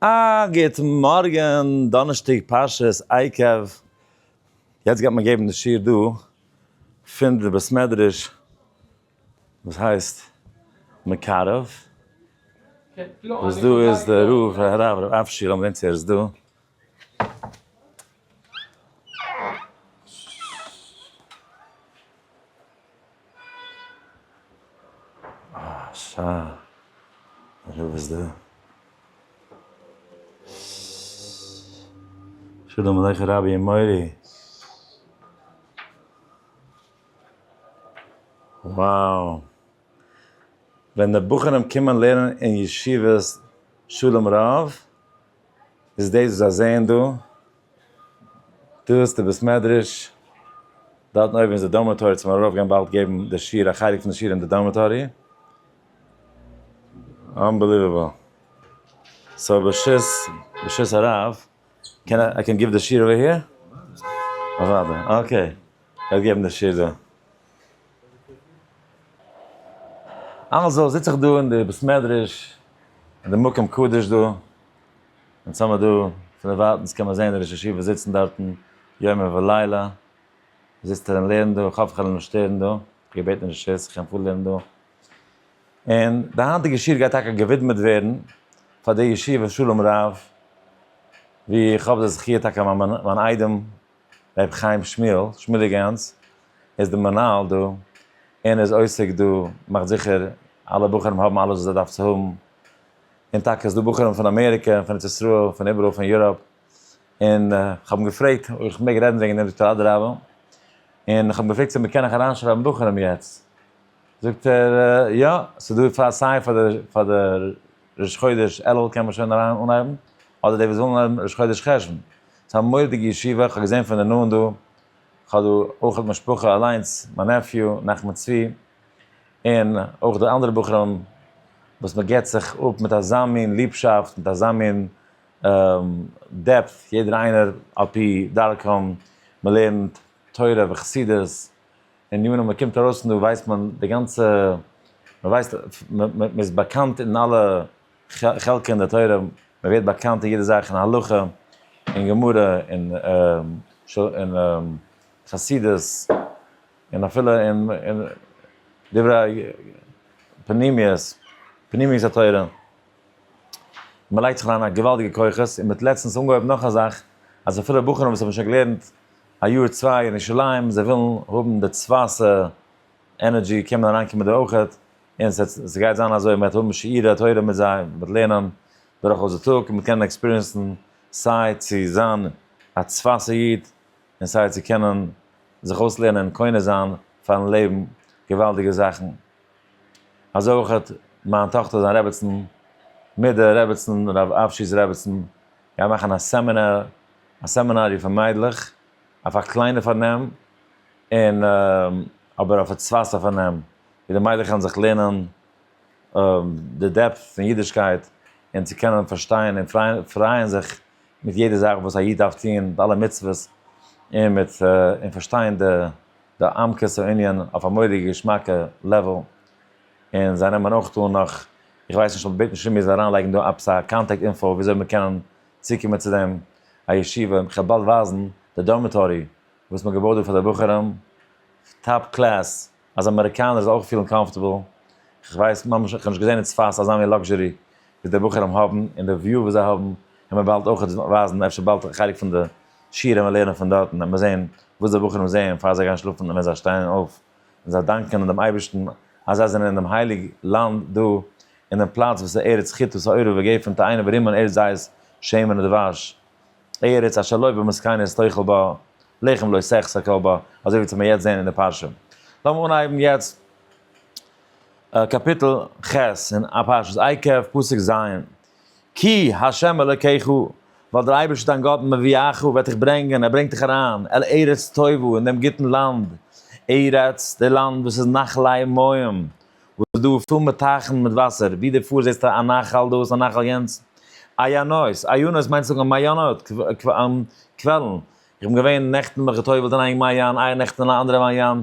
א גוט מארגען, דאנערשטאג פרשת עקב, יעצט גייט מען געבן די שיעור דא פון די בית מדרש וואס הייסט מקרב, וואס דא איז די רב הרב ר' אשר אמנון צור איז דא, שלום עליכם רבי און מורי. wow ווען די בחורים קומען לערנען אין ישיבת שלום רב. איז דאס וואס זיי זעען דא, דא איז די בית מדרש, דארטן אויבן איז די דארמעטארי, צו מיר ארויף גיין באלד געבן די שיעור, א חלק פון די שיעור אין די דארמעטארי, אנבעליוועבל, סאו ברשות ברשות הרב, קען איי קען גיוו די שיעור אווער היער? אוודאי, אקעי, ער וועט געבן די שיעור דא. אלזא זיץ איך דא אין די בית מדרש, אין די מקום קדוש דא, אונז האמער דא, פון דערווייטענס קען מען זעהן די ראש ישיבה זיצן דארטן יומם ולילה, זיצט ער און לערנט דא, איך האף איך וועל אים נישט שטערן דא, איך האב געבעטן רשות איך קען פארלערנען דא, און די היינטיגע שיעור גייט טאקע געווידמעט ווערן פאר די ישיבה שלום רב, ווי איך האב די זכי' טאקע מיין איידעם ר' חיים שמואל, שמואליק גאנץ, איז די מנהל דא, און איז עוסק דא, מאכט זיכער אלע בחורים האבן אלעס וואס זיי דארף צו האבן, און טאקע איז דא בחורים פון אמעריקע, פון ארץ ישראל, פון איבעראל, פון יוראפ, און כ'האב אים געפרעגט אויב כ'מעג רעדן וועגן דעם, זאגט ער אדרבה, און כ'האב אים געפרעגט צו מ'קען נאך אריינשרייבן בחורים יעצט. זאגט ער, יא, ס'איז דא פאר סיי פאר די פאר די ראש חודש אלול קען מען שוין אריין אנהייבן, אדער די וואס ווילן אנהייבן ראש חודש חשוון. ס'איז א מורא'דיגע ישיבה, כ'האב געזען פון די נאנט דא, כ'האב דא אויך משפחה אליינס, מיין נעפיו, נחמן צבי, און אויך די אנדערע בחורים, וואס מען געבט זיך אפ מיט אזא מין ליבשאפט, מיט אזא מין דעפט, יעדער איינער על פי דרכם, מען לערנט תורה וחסידות, און יענער מאל קומט ארויס און דא ווייסט מען די גאנצע, מען ווייסט, מען איז באקאנט אין אלע חלקי אין די תורה, מען ווערט באקאנט אין יעדע זאך אין הלכה, אין גמרא, אין אין חסידות, און אפילו אין אין דברי פנימיות, פנימיות התורה, מען לייגט זיך אריין א געוואלדיגע כוחות, און מען האט לעצטנס אנגעהויבן נאך א זאך, אז אפילו בחורים וואס האבן שוין געלערנט א יאר צוויי אין ירושלים, זיי ווילן האבן די צווייטע ענערדזשי קען מען אריינקומען דא אויך, און ס'גייט זיין אזוי, מ'עט האבן שיעורי תורה מיט זיי, מ'עט לערנען דורכאויס די טאג, און מ'עט קענען עקספיריענסן סיי צו זיין א צווייטע איד, און סיי צו קענען זיך אויסלערנען און קונה זיין פארן לעבן געוואלדיגע זאכן. אזוי אויך מיין טאכטער זיין רעבעצן מיט די רעבעצן רב אשי'ס רעבעצן גייען מאכן א סעמינאר, א סעמינאריע פאר מיידלעך, אויף א קליינע פארנעם, און אבער אויף א צווייסע פארנעם, ווי די מיידלעך וועלן זיך לערנען די דעפט פון אידישקייט, און צו קענען פארשטיין און פרייען זיך מיט יעדע זאך וואס א איד דארף טון, מיט אלע מצוות, און מיט און פארשטיין די עמקות הענין אויף א מורא'דיגע געשמאקע לעוועל. און זיי נעמען אויך אן נאך, איך ווייס נישט אבער בעט נישט פון מיר זיי אריינלייגן דא עפעס א קאנטעקט אינפאו וויאזוי מען קען צוקומען צו דעם א ישיבה, און כ'וועל באלד ווייזן די דארמיטארי וואס מ'האט געבויט דא פאר די בחורים, טאפ קלעס, אז אמעריקאנער זאל אויך פילן קאמפארטעבל, כ'ווייס ממש, כ'האב נישט געזען אין צפת אזא מין לאקזשערי וואס די בחורים האבן, און די וויו וואס זיי האבן העמער באלד אויך ווייזן, אפשר באלד א חלק פון די שיעור העמער לערנען פון דארטן, העמער זען וואס די בחורים זעען פאר זיי גייען שלאפן און ווען זיי שטייען אויף. און זיי דאנקען דעם אייבערשטן אז זיי זענען אינעם הייליג לאנד דא אינעם פלאץ וואס איז ארץ חיטוט האורו וגפן תאנה ורימון ארץ זית שמן ודבש ארץ אשר לא בא מסכנות תאכל בה לחם לא סכסא כל בה אזוי ווי צו מיר יעצט זעהן אין די פרשה. לאמיר אנהייבן יעצט קאפיטל ח' אין פרשת עקב פסוק ז'. כי ה' אלקיך, ווייל דער אייבערשטער דיין גאט מביאך, וועט דיך ברענגען, ער ברענגט דיך אריין, אל ארץ טובה, אין דעם גוטן לאנד, ארץ, די לאנד וואס איז נחלי מים, וואס איז דא פול מיט טייכן מיט וואסער, ווי דו פארסט זעסטו א נחל דאס, א נחל יענץ, עיינות, עיינות מיינט צו זאגן מעיינות, קוועלן, איך בין געווען נעכטן מיך געטובל'ט אין איין מעיין, איינער נעכטן אין אן אנדערע מעיין,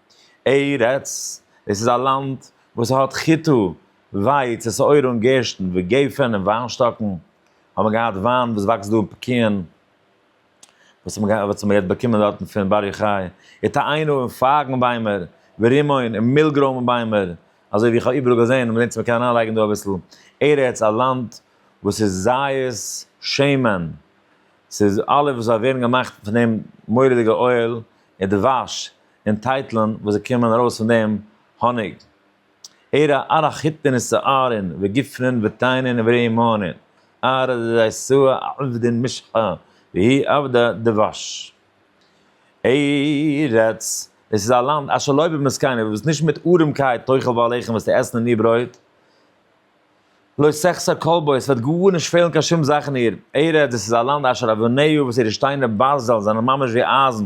ארץ, עס איז א לאנד וואס האט חיטה, ווייץ, שעורה און גערשטן, וגפן און וויינשטאקן, האט מען געהאט וויין וואס וואקסט דא און פקיעין, וואס האט מען וואס האט מען געהאט באקומען דארטן פון בר יוחאי, התאיינו און פייגן ביימער, ורימון און מילגרוים ביימער, אזוי ווי איך האב איבעראל געזען און מ'דענקט צו מ'קען אריין לייגן דא אביסל, ארץ, א לאנד וואס איז זית שמן, ס'איז אלע וואס זיי ווערן געמאכט פון דעם מורא'דיגע אויל און דבש, און טייטלען וואס זיי קומען ארויס פון דעם האניג, ער א אר א חיטין און שערין וגפנין ותאנין ורימונין אר א דייסוה א עבדין משחה והיא עבדה דבש. ארץ, עס איז א לאנד אשר לא במסכנין, וואס נישט מיט ארעמקייט תאכל בעליכם וועסטו עסן אין איר ברויט, לא שחסר כל בו, עס וועט גארנישט פעלן קיין שום זאך אין איר. ארץ, דאס איז א לאנד אשר אבניו, וואס אירע שטיינער ברזל זענען ממש ווי אייזן,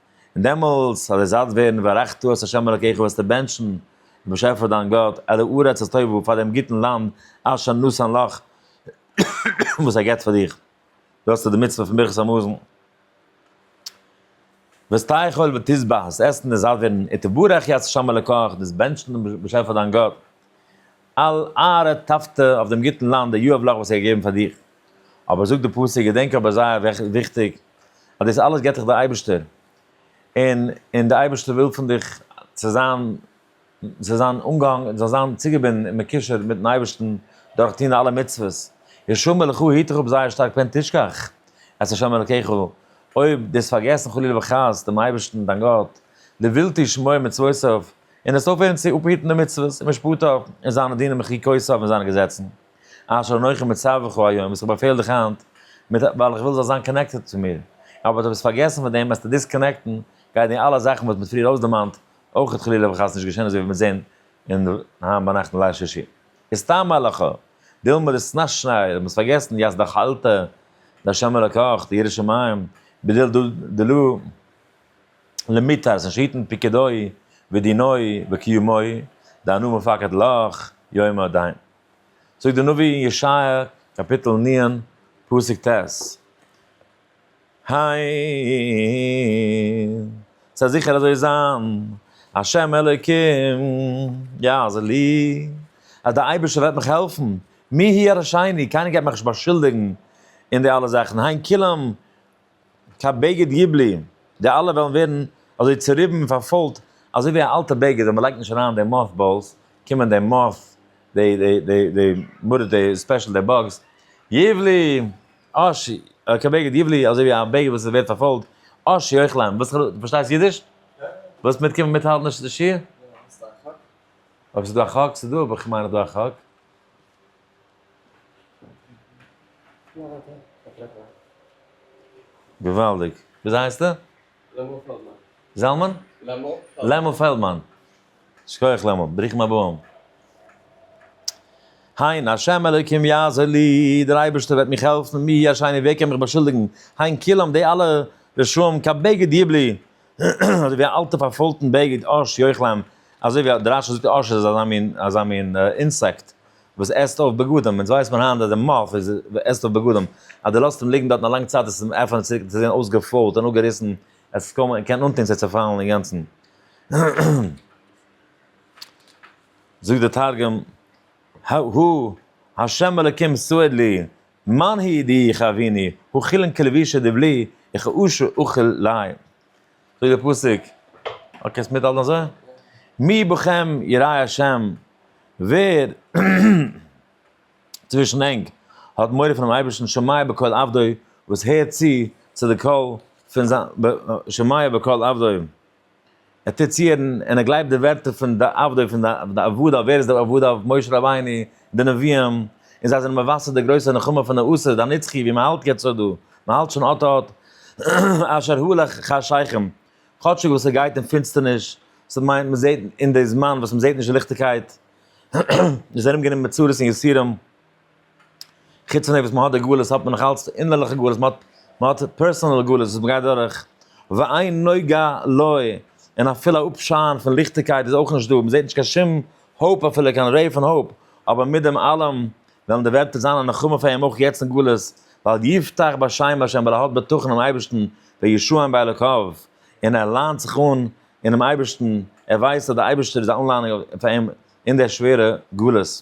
און דעמאלס האט דער זאץ ווערן וארכתו את ה' אלקיך וועסטו בענטשן דעם באשעפער דיין גאט על הארץ הטובה פאר דעם גוטן לאנד אשר נתן לך וואס ער געבט פאר דיך, דא האסטו די מצוה פון ברכת המזון. ותאכל ותשבע, דאס עסן איז זאט ווערן, ותברך את ה' אלקיך, דאס בענטשן דעם באשעפער דיין גאט. על אהרע טאפטע אויף דעם גוטן לאנד דער יואב לאך וואס ער האט געגעבן פאר דיר. אבער זאגט די פסוק, געדענק אבער זייער וויכטיג, אז דאס אלעס געבט דיך דער אייבערשטער, און און דער אייבערשטער וויל פון דיך צו זיין זאל זיין אנגעהאנגען, זאלסט זיין צוגעבינדן און מקושר מיטן אייבערשטן דורך טון די אלע מצוות, ישמור מלך הוא היט דיך אפ זייער שטארק פן תשכח את השם אלקיך, אויב דו האסט פארגעסן חלילה וחס דעם אייבערשטן דיין גאט, לבלתי שמור מצוותיו, און עס אויפהערן צו אפהיטן די מצוות און משפטיו און זיינע דינים און חוקיותיו און זיינע געזעצן, אשר אנכי מצווך היום, וואס איך באפעל דיך היינט, מיט ווייל איך וויל זאלסט זיין קאנעקטעד צו מיר, אבער דו ביסט פארגעסן פון דעם, וועסטו דיסקאנעקטן, גייט די אלע זאכן וואס מ'האט פריער אויסדערמאנט, אויך חלילה וחס נישט געשען אזוי ווי מ'וועט זען אין היינט ביינאכט אין ליל שישי. איז סתם הלכה, דילמא דשנת שניי, מ'האט פארגעסן יז דחלתא, ד' השם אלקיך, די ירא שמים, בדיל דלא. למיתר זיין שיטן פיקודוי ודינוי וקיומוי דאנו מפקד לך יומא דאין. זאגט די נביא אין ישעיה קאפיטל נין פסוק ט' העין, ס'וועט זיכער אזוי זיין, השם אלוקים יעזור לי, אז דער אייבערשטער וועט מיך העלפן, מי ירשעני, קיינער גייט מיך נישט באשולדיגן אין די אלע זאכן, העין כולם, קיין בגד יבלי, די אלע וועלן ווערן אזוי צוריבן און פארפוילט אזוי ווי א אלטע בגד ווען מ'לייגט נישט אריין די מאף באלס, קומען די מאף די די די די מרת די ספעשל די באגס, יבלי אש י קיין בגד יבלי אזוי ווי א בגד וואס ווערט פארפוילט אש י אויך ליינען וואס דו פארשטייסט אידיש? ווילסט מיטקומען מיטהאלטן די שיעור? אויב ס'דא א חק ס'דא אבער כ'מיין אז דא א חק. געוואלדיג. וויאזוי הייסטו? לעמל פעלדמאן. זלמן? לעמל. לעמל פעלדמאן. שכוח לעמל. ברוכים הבאים. היין השם אלוקים יעזור לי, דער אייבערשטער וועט מיך העלפן, מי יהיה אשמי ווער קען מיך באשולדיגן, היין כולם די אלע רשעים כבגד יבלי, אזוי ווי א אלטע פארפוילטן בגד אש יאך להם, אזוי ווי די רשי זאגט אש איז אזא מין אזא מין אינסעקט וואס עסט אויף בגדים, אונז ווייסט מען היינט אז די מאף איז עסט אויף בגדים, אז די לאזט אים ליגן דארטן א לאנג צייט עס איז עפענט צוריק צו זען אויסגעפוילט און אפגעריסן, עס איז קוים קען אנטון ס'וועט צעפאלן אינגאנצן. זאגט די תרגום, ה' אלקים סועד לי, מאן הי' די חביני, האכילין כלבישה דבלי, איך אאשה אאכיל ליה. זאגט דער פסוק, אוי קענסט מיטהאלטן אזוי? מי בכם יראי השם, ווער צווישן ענק האט מורא פונעם אייבערשטן שומע בקול עבדו, וואס הערט צו צו די קול פון זיין, שומע בקול עבדו, ער טוט צוערן און ער גלייבט די ווערטער פון די עבדי פון די עבדיו, ווער איז די עבדיו? משה רבינו, די נביאים, און זיי זענען מבשר די גרויסע נחמה פון די עשרת הנצחי ווי מען האלט יעצט אט דא, מען האלט שוין אט אט אשר הלך חשכים, כאטשיג וואס עס גייט אין פינצטערניש, ס'איז מיינט מען זעט אין די זמן וואס מען זעט נישט די ליכטיגקייט, איז ארום גענומען מיט צרות און יסורים. חוץ פון דעם וואס מען האט די גלות האט מען נאכאלץ די אינערליכע גלות, מען האט מען האט פערסאנעל גלות וואס מען גייט דורך, ואין נוגע לו, און אפילו א אפשיין פון ליכטיגקייט איז אויך נישט דא, מען זעט נישט קיין שום האפ אפילו קיין רעי פון האפ, אבער מיט דעם אלעם וועלן די ווערטער זיין א נחמה פאר אים אויך יעצט אין גלות, ווייל יבטח בשם השם ווייל ער האט בטחון אינעם אייבערשטן, וישוען באלוקיו, און ער ליינט זיך אן אינעם אייבערשטן, ער ווייסט אז דער אייבערשטער איז א אנליינונג פאר אים אין די שווערע גלות.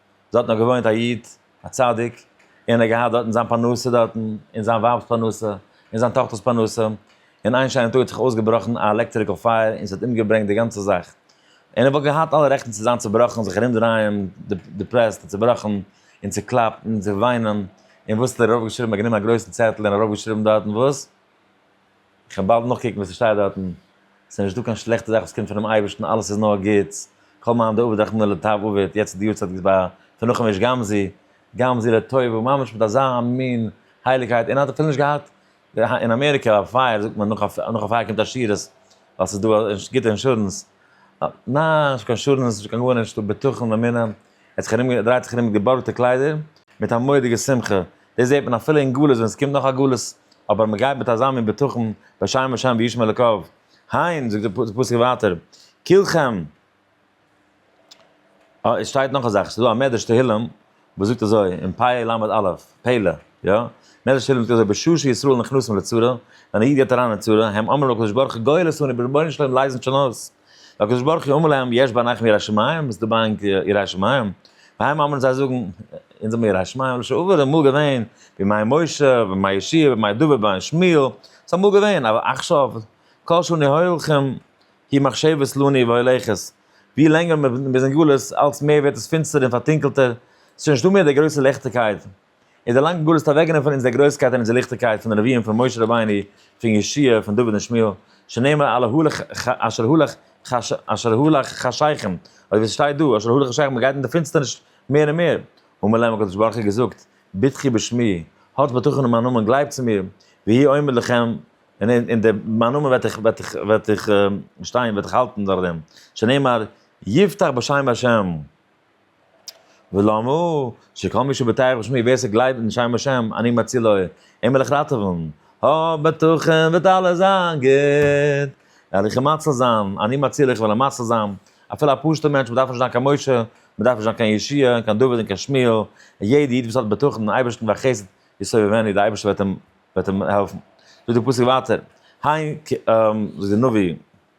דארטן האט געוואוינט א איד, א צדיק, און ער האט געהאט דארטן זיין פרנסה דארטן, און זיין ווייב'ס פרנסה, און זיין טאכטער'ס פרנסה, און איין שיינעם טאג האט זיך אויסגעבראכן א עלעקטריקל פייער און ס'האט אומגעברענגט די גאנצע זאך. און ער וואלט געהאט אלע רעכטן צו זיין צובראכן, זיך ארומדרייען דיפרעסט און צובראכן, און צוקלאפט, און צו וויינען, און וואס האט ער ארויפגעשריבן? ער האט גענומען א גרויסן צעטל און ארויפגעשריבן דארטן וואס? איך וועל באלד נאכקוקן וואס ס'שטייט דארטן, ס'איז נישט דא קיין שלעכטע זאך וואס קומט פונעם אייבערשטן, אלעס איז נאר גוטס, כל מאן דעביד רחמנא לטב עביד, יעצט איז די יארצייט געווען ביי פון נחום איש גמזו, גמזו לטובה, ממש מיט אזא מין הייליגקייט, און ער האט אפילו נישט געהאט, אין אמעריקע א פייער זאגט מען נאך א פייער קומט א שירות, ווייל ס'איז דא גוטע אינשורענס, ניין נישט קיין אינשורענס נישט קיין גארנישט, בטחון אמונה, ער האט זיך ארום געדרייט זיך ארום מיט געבארגטע קליידער, מיט א מורא'דיגע שמחה, דאס זעט מען אפילו אין גלות ווען עס קומט נאך א גלות, אבער מען גייט מיט אזא מין בטחון, בשם השם וישמע אלוקיו, הן, זאגט די פסוק ווייטער, כולכם, אה, עס שטייט נאך א זאך, עס איז דא א מדרש תהילים, וואס זאגט אזוי, אין פ א למד א', פלא, יא, מדרש תהילים זאגט אזוי, בשעה שישראל נכנסים לצרה, ווען א איד גייט אריין אין צרה, הם אומרים לקדוש ברוך הוא גואל עשני, רבונו של עולם לייז אונז שוין אויס, והקדוש ברוך הוא אומר להם יש בעניכם יראת שמים, איז דא ביי ענק יראת שמים? והיינו אומרים זיי זאגן, אונז האבן יראת שמים, לשם עבר איז אמאל געווען, בימי משה, בימי ישעיה, בימי דוד, בימי שמואל, ס'איז אמאל געווען, אבער עכשיו, כל שאני הולכם, כי מחשבת לוני והולכת, ווי לענגער מ'איז אין גלות, אלץ מער ווערט עס פינסטערער און פארטונקלטער, ס'איז שוין נישטא מער די גרויסע ליכטיגקייט. און דערלאנגט גאר דאס אוועקנעמען פון אונזער גרויסקייט און אונזער ליכטיגקייט פון די נביאים פון משה רבינו פון ישעי' פון דוד און שמואל שנאמר על ההלך אשר הלך אשר הלך חשיכם אוי ווי ס'שטייט דא אשר הלך חשיכם מ'גייט אין די פינסטערניש מער און מער אמר להם הקדוש ברוך הוא געזאגט בטחי בשמי האטס בטחון אין מיין נאמען גלייבטס אין מיר והי' עומד לכם און און די מיין נאמען וועט איך וועט איך וועט איך שטיין וועט איך האלטן דורך דעם שנאמר יבטח בשם השם. ולאמו שכל מי שבטח בשמי ווער ס'גלייבט אין שם השם אני מצילו אים וועל איך ראטעווען, האב בטחון וועט אלעס זיין גוט, וועל איך אים מציל זיין, אני מצילו איך וועל אים מציל זיין, אפילו א פשוט'ע מענטש מ'דארף נישט זיין קיין משה, מ'דארף נישט זיין קיין ישעי', קיין דוד און קיין שמואל, יעדע איד וואס האט בטחון אין אייבערשטן והחסד יסובבני די אייבערשטער וועט אים וועט אים העלפן, זאגט די פסוק ווייטער, ה' כ זאגט די נביא.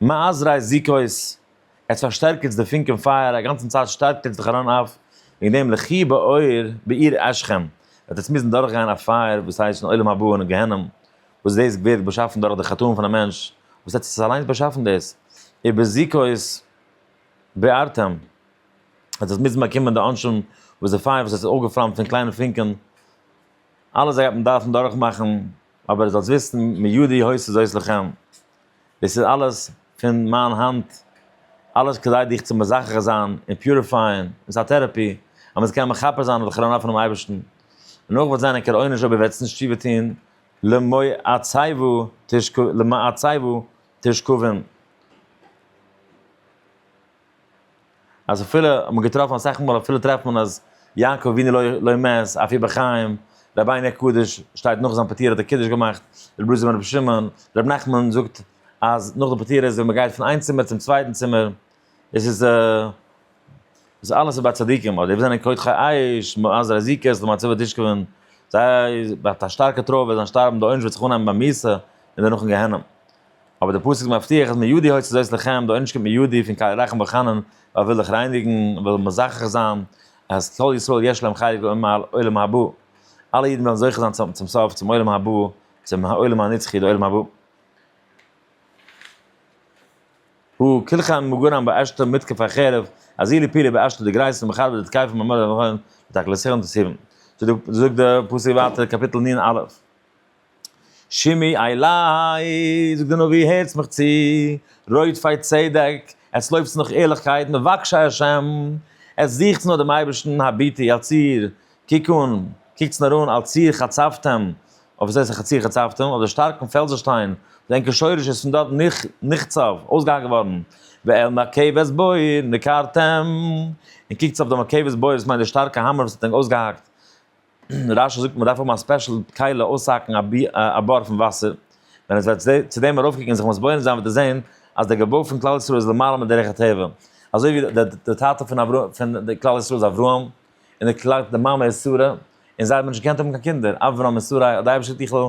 מאז ר' זיכוי'ס, עס פארשטערקערטס די פונק און פייער, א גאנצן צייט שטארקט עטס זיך אריין אויף וועגן דעם לכי באור בעיר אשכם, וועט עטס מוזן דורך גיין א פייער וואס הייסט אין עולם הבא און אין גיהנום, וואס דאס ווערט באשאפן דורך די חטאים פון א מענטש, וואס עטס עס אליינס באשאפן דאס, איר בזיכוי'ס בערתם, וועט עטס מוזן באקומען די עונשים וואס די פייער וואס עס איז אויפגעפלאמט פון קליינע פונקען, אלעס דאס גייט מען דארפן דורכמאכן, אבער זאלטס וויסן מידי הוסט זאת לכם, דאס איז אלעס פון מיין האנט, אלעס כדי דיך צו מזכך זיין און פיוריפייען, עס איז א טעראפי, אז מען זאל קענען מכפר זיין אויף די חרון אף פונעם אייבערשטן, און אויך וועט זיין א קער עונש אויב איר וועט נישט תשובה טון, למאי עצהיוו תשכבין. אז אפילו האט מען געטראפן אסאך מאל אפילו טרעפט מען אז יעקב אבינו לא לא מת אפי' בחיים, רבי'ן הקדוש שטייט נאך זיין פטירה האט ער קידוש געמאכט, ר' בלז בן ר' שמעון, ר' נחמן זאגט אז נאך די פטירה איז ווען מען גייט פון איין צימער צום צווייטן צימער, עס איז דאס אלעס איז ביי צדיקים, אדער וואס זענען קודחי עייש, מאז רזיקות למצבה תשכבון, זיי האט א שטארקע תרופה זיי שטארבן די עונש וועט זיך אנהייבן ביי מיתה און דערנאך אין גיהנום. אבער דער פסוק מבטיח אז מידי הוציא זאת לכם, די עונש קומט מידי פון קל ירחם וחנון, ווייל ער וויל דיך רייניגן, ער וויל מזכך זיין אז כל ישראל יש להם חלק באומה העולם הבא, אלע אידן וועלן זוכה זיין צו האבן צום סוף צום עולם הבא, צום העולם הנצחי די עולם הבא. הוא כלחם מגורם באשתו מתקף החרב, אזי לפילי באשתו די גרייזן מחרב די תקייפן במלא המכון, ותקלסכם תסירם. זאגט דער פסוק ווייטער קאפיטל נ א. שמי עלי, זאגט די נביא הערטס מיך צו, רודפי צדק, עטס לויפטס נאך ערליכקייט, מבקשי השם, עטס זוכטס נאר דעם אייבערשטן, הביטי על ציר, קוק אן, קוקטס נאר אן, על ציר חצבתם, אויף וואס הייסט על ציר חצבתם, אויף די שטארקן פעלזעשטיין, די ענקער שורש איז פון דארט נחצב, אויסגעהאקט געווארן, ועל מרכבת בור נקרתם, און קוקטס אויף די מרכבת בור, דאס מיינט די שטארקע האמער וואס האט ענק אויסגעהאקט. רשי זאגט מען דארף האבן א ספעשל כלי אויסהאקן א בור פון וואסער, ווען עס וועט צו דעם ארויף קוקן און זיך מתבונן זיין וועט ער זען אז דער געבוי פון כלל ישראל איז למעלה מדרך הטבע, אזוי ווי דער טאטע פון כלל ישראל איז אברהם, און די מאמע איז שרה, און זיי האבן נישט געקענט האבן קיין קינדער, אברהם און שרה האט די אייבערשטער דיך ל ע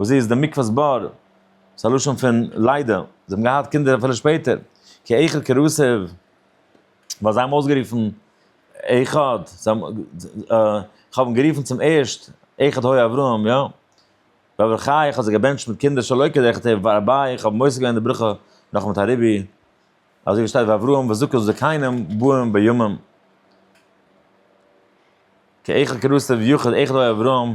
וואס איז די מקווה'ס בור? ס'איז א לשון פון ליידער, זיי האבן געהאט קינדער אפילו שפעטער, כי איכא כרוסב, ווייל זיי האבן אויסגערופן איכא, כ'האב אים גערופן צום ערשט איכא הוי אברהם, יא, ואבער חי איך האב זיי געבענטשט מיט קינדער שלא כדרכתי ורביי, איך האב מוסיף געווען די ברכה נאך מיט א רבי, אזוי ווי שטייט ואברהם וזקו זקנים באים בימים, כי איכא כרוסב יוכד איכא הוי אברהם,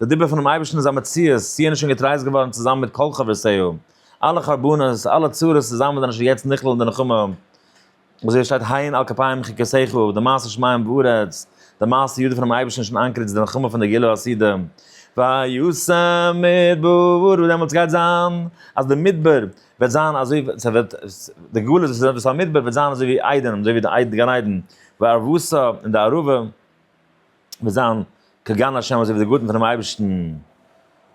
די דיבור פונעם אייבערשטן איז א מציאות, ציון איז שוין געטרייסט געווארן צוזאמען מיט כל חברותיו, אלע חרבנות, אלע צרות צוזאמען זענען שוין יעצט נכלל אין די נחמה, ווי אזוי עס שטייט הן על כפיים חקותיך, די מעשה שמים וארץ, די מעשה ידו פונעם אייבערשטן איז שוין אנקערט איז די נחמה פון די גילו הסעודה, וישם מדבר, און דעמאלטס גייט זיין אז די מדבר וועט זיין אזוי ס'וועט די גלות וואס איז עפעס א מדבר וועט זיין אזוי ווי עדן, אזוי ווי די גן עדן, וערבותא און די ערבה. וועט זיין כגון השם אזוי ווי די גארטן פונעם אייבערשטן,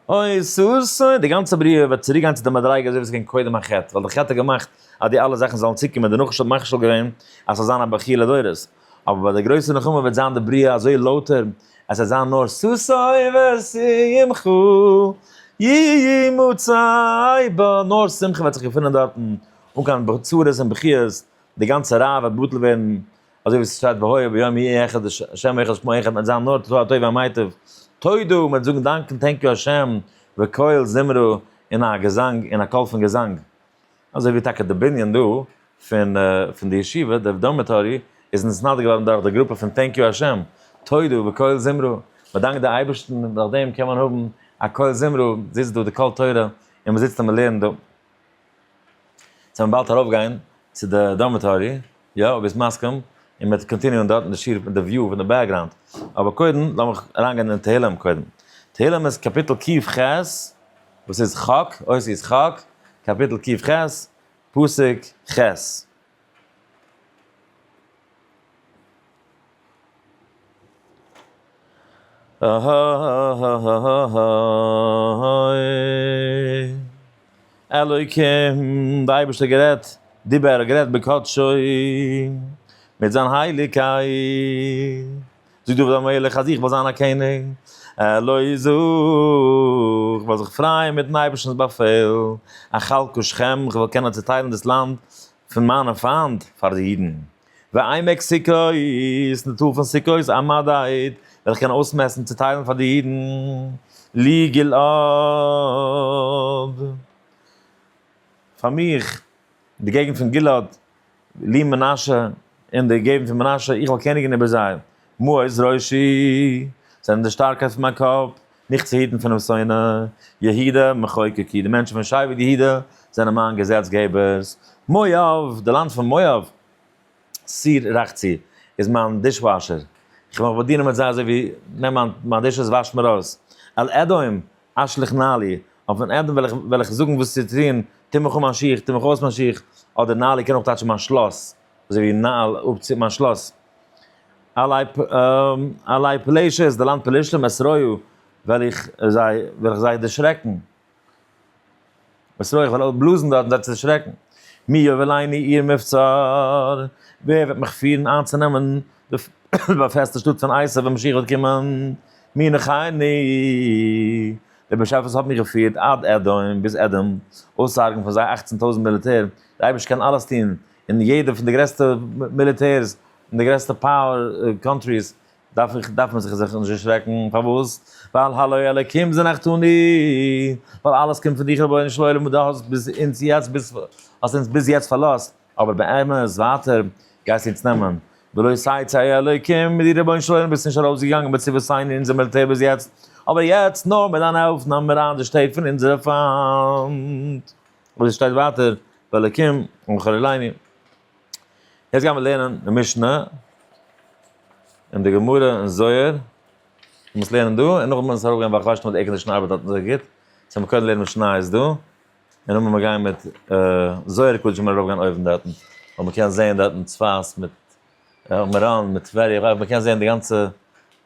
אוי סאס אוי די גאנצע בריאה וועט צוריק גיין צו די מדריגה אזוי ווי עס איז געווען קודם החטא, ווייל די חטא האט געמאכט אז די אלע זאכן זאלן צוקומען, די נחש האט מכשיל געווען אז ס'זאל זיין א בכי' לדורות, אבער ביי די גרויסע נחמה וועט זיין די בריאה אזוי לויטער אז ס'וועט זיין נאר סאס אוי ושמחו יהי' מצאי בה, נאר שמחה וועט זיך געפונען דארטן, אן קיין צרות און בכיות, די גאנצע רעה וועט בטל ווערן, אזוי ווי עס שטייט והיה ביום ההוא אחד השם אחד שמו אחד מען וועט זיין נאר תפלה הטוב והמיטב תודו מען וועט זאגן דאנק און טענק יו השם וקהל זמרו און א געזאנג און א קול פון געזאנג אזוי ווי טאקע די בנין דא פון פון די ישיבה די דארמעטארי איז נתסנדק געווארן דורך די גרופע פון טענק יו השם תודו וקהל זמרו מען דאנקט די אייבערשטן און דורכדעם קען מען האבן א קהל זמרו זיצט דא די קול תורה און מען זיצט און מען לערנט דא. זאל מען באלד ארויף גיין צו די דארמעטארי, יא אויב ביסט מסכים, און מ'וועט קאנטיניען דארט אין די שיעור פון די וויו פון די בעקגראונד, אבער קודם לאמיך אריינגיין אין תהלים קודם, תהלים איז קאפיטל קיו ח, וואס איז חק, אותיות חק, קאפיטל קיו ח, פסוק ח. אלוקים, דער אייבערשטער גערעדט, דיבר, גערעדט בקדשו, מיט זיין הייליגקייט. זאגט דוד המלך אז איך וועל זיין א קעניג, עלוי איז אויך, כ'וועל זיך פרייען מיט'ן אייבערשטנ'ס באפעל, אכלקו שכם, כ'וועל קענען צעטיילן דאס לאנד פון מיינע פיינט פאר די אידן. ועמק סוכות, די טאל פון סוכות, א מדד, וועל איך קענען אויסמעסן, צעטיילן פאר די אידן, לי גלעד, פאר מיך, די געגנט פון גלעד. לי מנשה, און די געבן פון מנשה, איך וועל קעניגן איבער זיי. מעוז ראשי, זיי זענען די שטארקייט פון מיין קאפ, מיך צו היטן פונעם שונא. יהודה, מחוקקי, די מענטשן פון שבט יהודה, זענען מיין געזעץ געבערס. מואב, די לאנד פון מואב, סיר רחצי, איז מיין דיש וואשער, איך וועל מיך באדינען מיט זיי אזוי ווי, נעם מיין דישעס וואש מיר אויס. על אדום. אשליך נעלי, אויף אן עדן וועל איך זאגן וואס צו טון, טו מיך אן מיין שיך, טו מיך אויס מיין שיך, אדער נעלי קען אויך טייטשן מיין שלאס, אזוי ווי נעל, אפצו, מיין שלאס. עלי פלשת, די לאנד פלשתים, אסרוהו, וועל איך זיי, וועל איך זיי דערשרעקן. וואס אויך וועל אויך בלאזן דארט און דארט צו דערשרעקן, מי יובילני עיר מבצר, ווער וועט מיך פירן איינצונעמען די באפעסטע שטאט פון עשיו ווען משיח וועט קומען, מי ינחני, דער באשעפער האט מיך געפירט עד אדום, ביז אדום, אויסצוהרגן פון זיי אַכצן טויזנט מיליטער, דער אייבערשטער קען אלעס טון, און יעדע פון די גרעסטע מיליטערס, און די גרעסטע פאוער קאנטריס, דארף איך דארף מען זיך זיך נישט דערשרעקן, פארוואס? ווייל הלואי אלקים זענעך אני, ווייל אלעס קומט פון דיך רבונו של עולם און דו האסט ביז אונז יעצט ביז האסט אונז ביז יעצט פארלאזט, אבער באמת ווייטער גייסטו אונז נעמען, ולא יסייעתך ה' אלקים, מיט דיר רבונו של עולם ביסטו נישט ארויסגעגאנגען בצבאותינו און אונזער מיליטער ביז יעצט, אבער יעצט נאר מיט דיין הילף נעמען מיר איין די שטעט פון אונזערע פיינט. אבער עס שטייט ווייטער ואלקים ומחול אלינו. יעצט גיימער לערנען די משנה און די גמרא און זוהר, מ'מוז לערנען דא און נאכדעם מוז עס ארויפגיין ווייל כ'ווייס נישט צו די עירקאנדישן ארבעט דארט אזוי גוט, סאו מ'קען קודם לערנען משניות דא, און נאכדעם וועל מיר גיין מיט זוהר קדשו מיר ארויפגיין אויבן דארטן, ווייל מ'קען זעהן דארטן צפת מיט מירון מיט טבריה, כ'ווייס מ'קען זעהן די גאנצע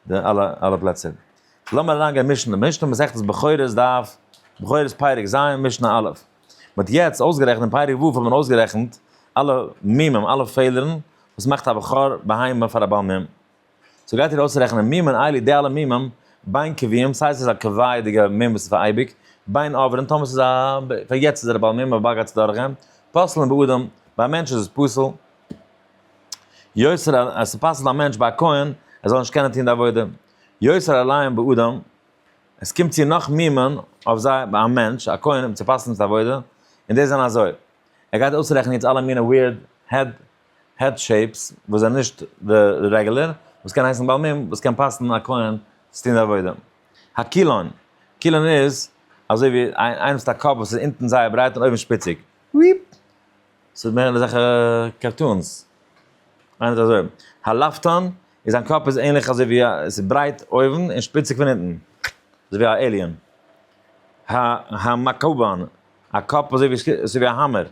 די אלע אלע פלעצער. לאמיר אריינגיין משנה משנה מסכת בכורות דף בכורות פרק ז' משנה א'. מען האט יעצט אויסגערעכנט אין פרק ו' האט מען אויסגערעכנט אלע מימים אלע פעלערן וואס מאכט א בכור בהמה פאר א בעל מום, סאו גייט איר אויסרעכענען מימים איילי די אלע מימים בין קובעים סיי עס איז א קובע'דיגע מום וואס איז פאר אייביג, בין עוברים טאמער עס איז א פאר יעצט איז ער א בעל מום אבער באלד גייט עס דורך גיין, פסל'ן באדם ביי א מענטש איז עס פסול, יוצר עס פסל'ט א מענטש ביי א כהן ער זאל נישט קענען טון די עבודה, יוצר א ליים באדם עס קומט צו נאך מימון אויף זיי ביי א מענטש, א כהן, אים צו פסל'ן פון עבודה, און די זענען אזוי. ער גייט אויסרעכענען יעצט אלע מינע ווירד העד העד שעיפס וואס זענען נישט די רעגולער, וואס קען הייסן בעל מום וואס קען פסל'ן א כהן צו טון די עבודה. הקילון, קילון איז אזוי ווי איינעם וואס האט א קאפ וואס איז אונטן זייער ברייט און אויבן שפיציג. וויפ. ס'איז מער אזעלכע קארטונס. איינער האט אזוי, האלאפטאן, און זיין קאפ איז ענליך אזוי ווי א, עס איז ברייט אויבן און שפיציג פון אונטן, אזוי ווי א עיליען. ה ה מאקאובאן, א קאפ אזוי ווי אזוי ווי א האמער,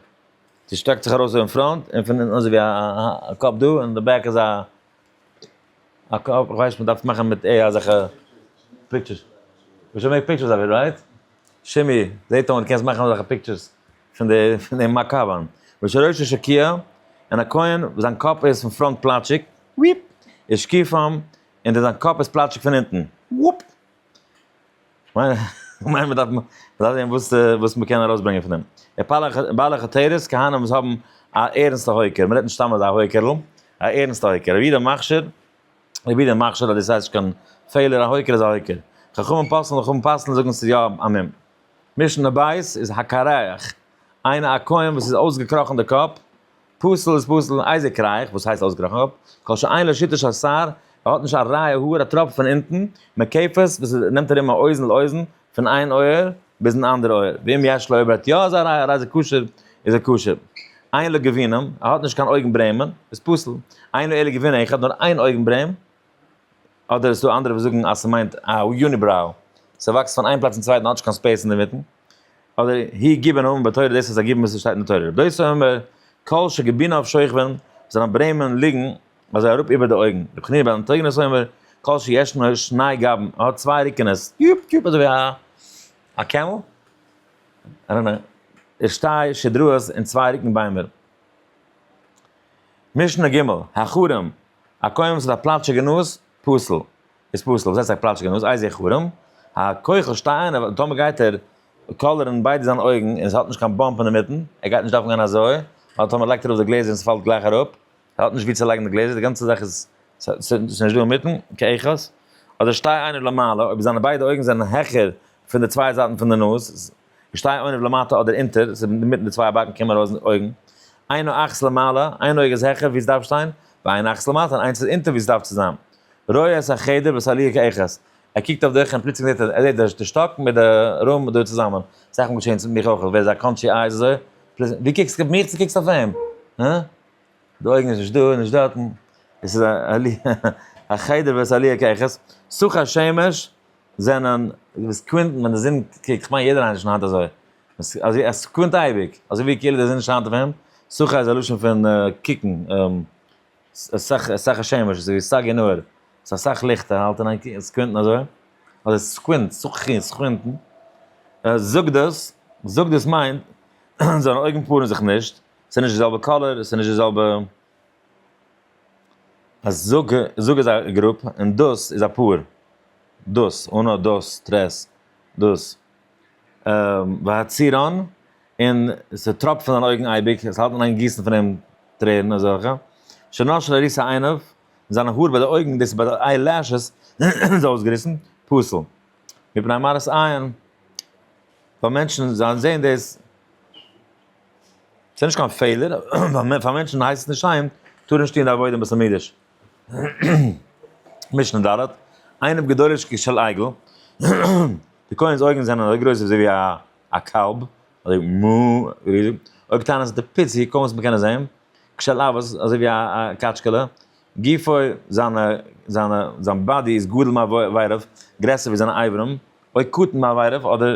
ס'שטרעקט זיך ארויס אויבן פראנט און פון אונטן אזוי ווי א קאפ דא און די בעק איז א א קאפ, איך ווייס מ'דארף מאכן מיט עי איי אזעלכע פיקטשערס. מ'זאל מעקן פיקטשערס אויף איט רייט? שימי, זעהט אויס קענסט מאכן אזעלכע פיקטשערס פון די פון די מאקאוואן. ושרשו שקיעה, און א כהן וואס זיין קאפ איז פון פראנט פלאטשיג, וויפ, איז שקיע פאם, און די זיין קאפ איז פלאטשיג פון אונטן, וואופ. כ'מיין מ'דארף זעהן וואס מ'קען ארויסברענגען פון דעם. בעלי חתירות, כהנא וואס האבן א ערענסטע הויקער, מ'רעדט נישט סתם אזא הויקערל, א ערענסטע הויקער, רבי יהודה מכשיר, רבי יהודה מכשיר אז דאס הייסט נישט קיין פעלער, א הויקער איז א הויקער. חכמים פסל'ן, חכמים פסל'ן זאגן אז ס'איז יא א מום. משנה בית איז הקרח, איינער א כהן וואס איז אויסגעקראכן די קאפ, פסול איז פסול און אייזיק רייך, וואס הייסט אויסגעראכן אפ? כל שאין לו שיטה של שר, ער האט נישט א רייע האר א טראפ פון אונטן, מקעפעס וואס איז נעמט ארום א אוזן לאוזן, פון איין אויער ביזן אנדערע אויער, ואם יש לו אויב ער האט יא אזא רייע האר אייזיק כשר איז ער כשר, אין לו גבינים, ער האט נישט קיין אויגן ברעמען, איז פסול, אין לו אלא גבין אחד, נאר איין אויגן ברעם, אדער עס איז דא אנדערע וואס זאגן אז ס'מיינט א יוניבראו, ס'וואקסט פון איין פלאץ צום צווייטן, האט נישט קיין ספעיס אינדערמיטן. אדער הי גיבן אויבן ביי תורה דאס איז א גיבן וואס שטייט אין תורה רבי דוסא אומר כל שגבינאוו שוכבן זיינע ברעמען ליגן אזוי אראפ איבער די אויגן רבי חנינא בן אנטוניא אומר כל שישנו שני גבן ער האט צוויי רוקענעס יופ יופ אזוי ווי א א קעמל און א ער שטיי שדרות און צוויי רוקן ביימער משנה ג' הכרם א קוים וואס האט א פלאטשיגע נאז פסול איז פסול וואס הייסט זיי פלאטשקען אויס איז ער חרם? הכח שטיי איינער ווייל טאמער גייט ער קאלערן ביידע זיינע אויגן און עס האט נישט קיין באמפ אינמיטן ער גייט נישט דארפן גיין אזוי ווייל טאמער לייגט ער אראפ די גלעזער און עס פאלט גלייך אראפ ער האט נישט ווי צו לייגן די גלעזער די גאנצע זאך איז ס'איז נישט דא אינמיטן כאחד אדער שטיי איינער למעלה אויב זיינע ביידע אויגן זענען העכער פון די צוויי זייטן פון די נאז. איך שטיי אוינעוו למטה אדער אינטער, ס'איז אינמיטן די צוויי באקן קומען ארויס אויגן. איין אך'ס למעלה, איין אויג איז העכער ווי ס'דארף שטיין, ואין אך'ס למטה און איינס איז אינטער ווי ס'דארף צו זיין. רואה את החדר ואת הליה כאחת. ער קוקט אויף די איך און פלוצלינג זעט ער, ער זעט די שטאק מיט די רום דא צוזאמען. ס'איז אכמאל געשען צו מיך אויך, ווער איז א קאנטשי איי איז אזוי, פלוצלינג, דו קוקסט אויף מיך צו קוקסט אויף אים? הא? די אויגן איז נישט דא און נישט דארטן, עס איז א הליה, החדר ואת הליה כאחת, סוכ השמש. זענען די סעקונדן ווען די זון קוקט, כ'מיין יעדער איינער שיינט אזוי, אז עס סעקונדט אייביג, אזוי ווי כאילו די זון שיינט אויף אים, סחה איז א לשון פון קוקן, סחה סחה השמש, אזוי ווי סגי נהור, ס'איז אסאך ליכט ער האלט אין איין קוקן, סעקונדן אזוי, אדער סעקונד, סחי, סעקונדן, זאגט דאס, זאגט דאס מיינט, זיינע אויגן פארן זיך נישט, ס'איז נישט די זעלבע קאלער, ס'איז נישט די זעלבע א זאג זאג איז א גרופ און דאס איז א פאר. דאס, אנא, דאס, טרעס, דאס. והצהרן, און ס'טראפט פון זיינע אויגן אייביג, עס האלט מען איין גיסן פון אים טרערן אזעלכע. שנאר של עריסה עיניו, און זיינע האר ביי די אויגן, דאס איז ביי די איי לעשעס, זיי אויסגעריסן. פסול. מפני מראות עין, ווייל מענטשן זעען דאס. עס איז נישט קיין פעלער, ווייל פאר מענטשן הייסט עס נישט שיין, טאר ער נישט טוהן די עבודה בית המקדש. משנה ד', עיניו גדולות כשל עגל, די כהן'ס אויגן זענען אזוי גרויס אזוי ווי א קאלב, אזוי מו, ריזיג, אויב טענה'ט אז די פיס ווי קוים וואס מען קען עס זעהן, כשל אבות, אזוי ווי א קאטשקעלע, גופו, זיינע, זיינע, זיין באדי איז גדול מאיברים, גרעסער ווי זיינע אברים, אוי קטן מאיברים, אדער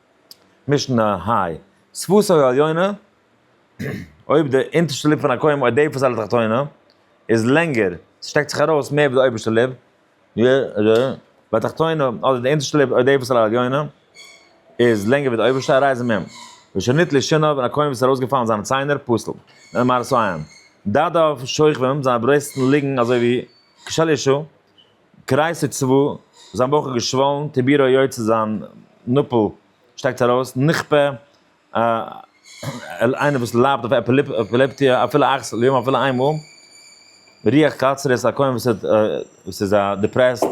משנה היי, זכותו העליונה, אויב די אונטערשטע ליפ פון א קוים אויף די פאסאדע תחתונה איז לענגער, ס'שטעקט זיך ארויס מער ווי די אויבערשטע ליפ, י ר, והתחתונה, אדער די אונטערשטע ליפ אויף די פאסאדע העליונה, איז לענגער ווי די אויבערשטע, הרי זה מ. ושנית לשינב, און א קוים וואס איז ארויסגעפאלן זיינע ציינער, פסול. דער מהרס א, דאדאו שוכבים, זיינע ברוסטן ליגן אזוי ווי כשל ישו, קרייסער צבא, זיין בויך איז געשוואלן, טעבירא איז יוצא זיין נאפל שטעקט ארויס, נכפה, איינער וואס ליידט אויף עפילעפטיע אפילו אכסל ליום אפילו איין מאל, רוח קצרה איז א כהן וואס האט וואס איז דיפרעסט,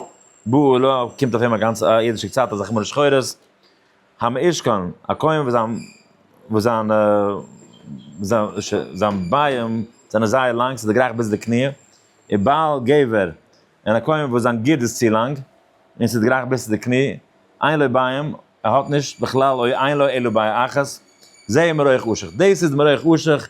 בא עולא קומט אויף אים א גאנצע אידישע קצת אזא חמור שחורות. המשכן, א כהן וואס זיין וואס זיינע זיין ביים זענען זייער לאנג ס'איז דערגרייכט ביז די קניע, און בעל גבר, און א כהן וואס זיין גירד איז צו לאנג, און ס'איז דערגרייכט ביז צו די קניע, אין לו ביים, ער האט נישט, בכלל אוי אין לו אלא ביי אחת, זה מראיך אשך, דאס איז מראיך אשך,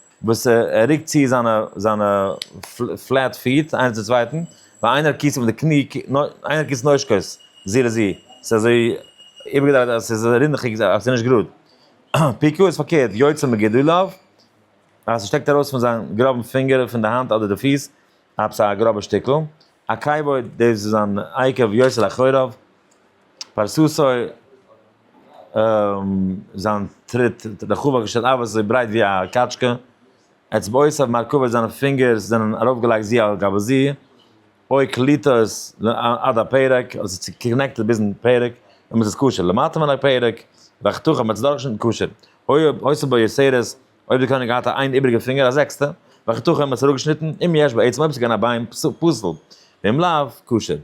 וואס ער רוקט צו זיינע זיינע פלעט פיט איינער צום צווייטן, ווייל איינער קיסט אים מיט די קני, איינער קיסט נושקות זו לזו, ס'איז אזוי איבערגעדרייט אז ס'איז רינדעכיג אז ס'איז נישט גראד. פיקו איז פארקערט, יוצא מגדוליו, אז ס'שטעקט ארויס פון זיין גראבן פינגער און פון די האנט אדער די פיס, עפעס א גראבע שטיקל, א קייבאורד דאס איז אן עקב יוסל אחוריו, פרסתו זיין טריט רחבה כשל אבות אזוי ברייט ווי א קאטשקע, אצבעותיו מרכבות זיינע פינגער זענען ארויפגעלייגט זי על גבי זי, אוי קליטות עד הפרק, עס איז צוקנעקטעד ביזן פרק, אמת איז קשר למטה מן הפרק, ואכתוך אמת איז דאך שוין קשר, אוי אויסער בו יסערות. אויב די קעניג געהאט א איין איבריגע פינגער א זעקסטע, וועלכע תח האט מען עס אראפגעשניטן, אם יש בעצם אויב עס איז געווען א ביין פסול, ואם לאו, כשר.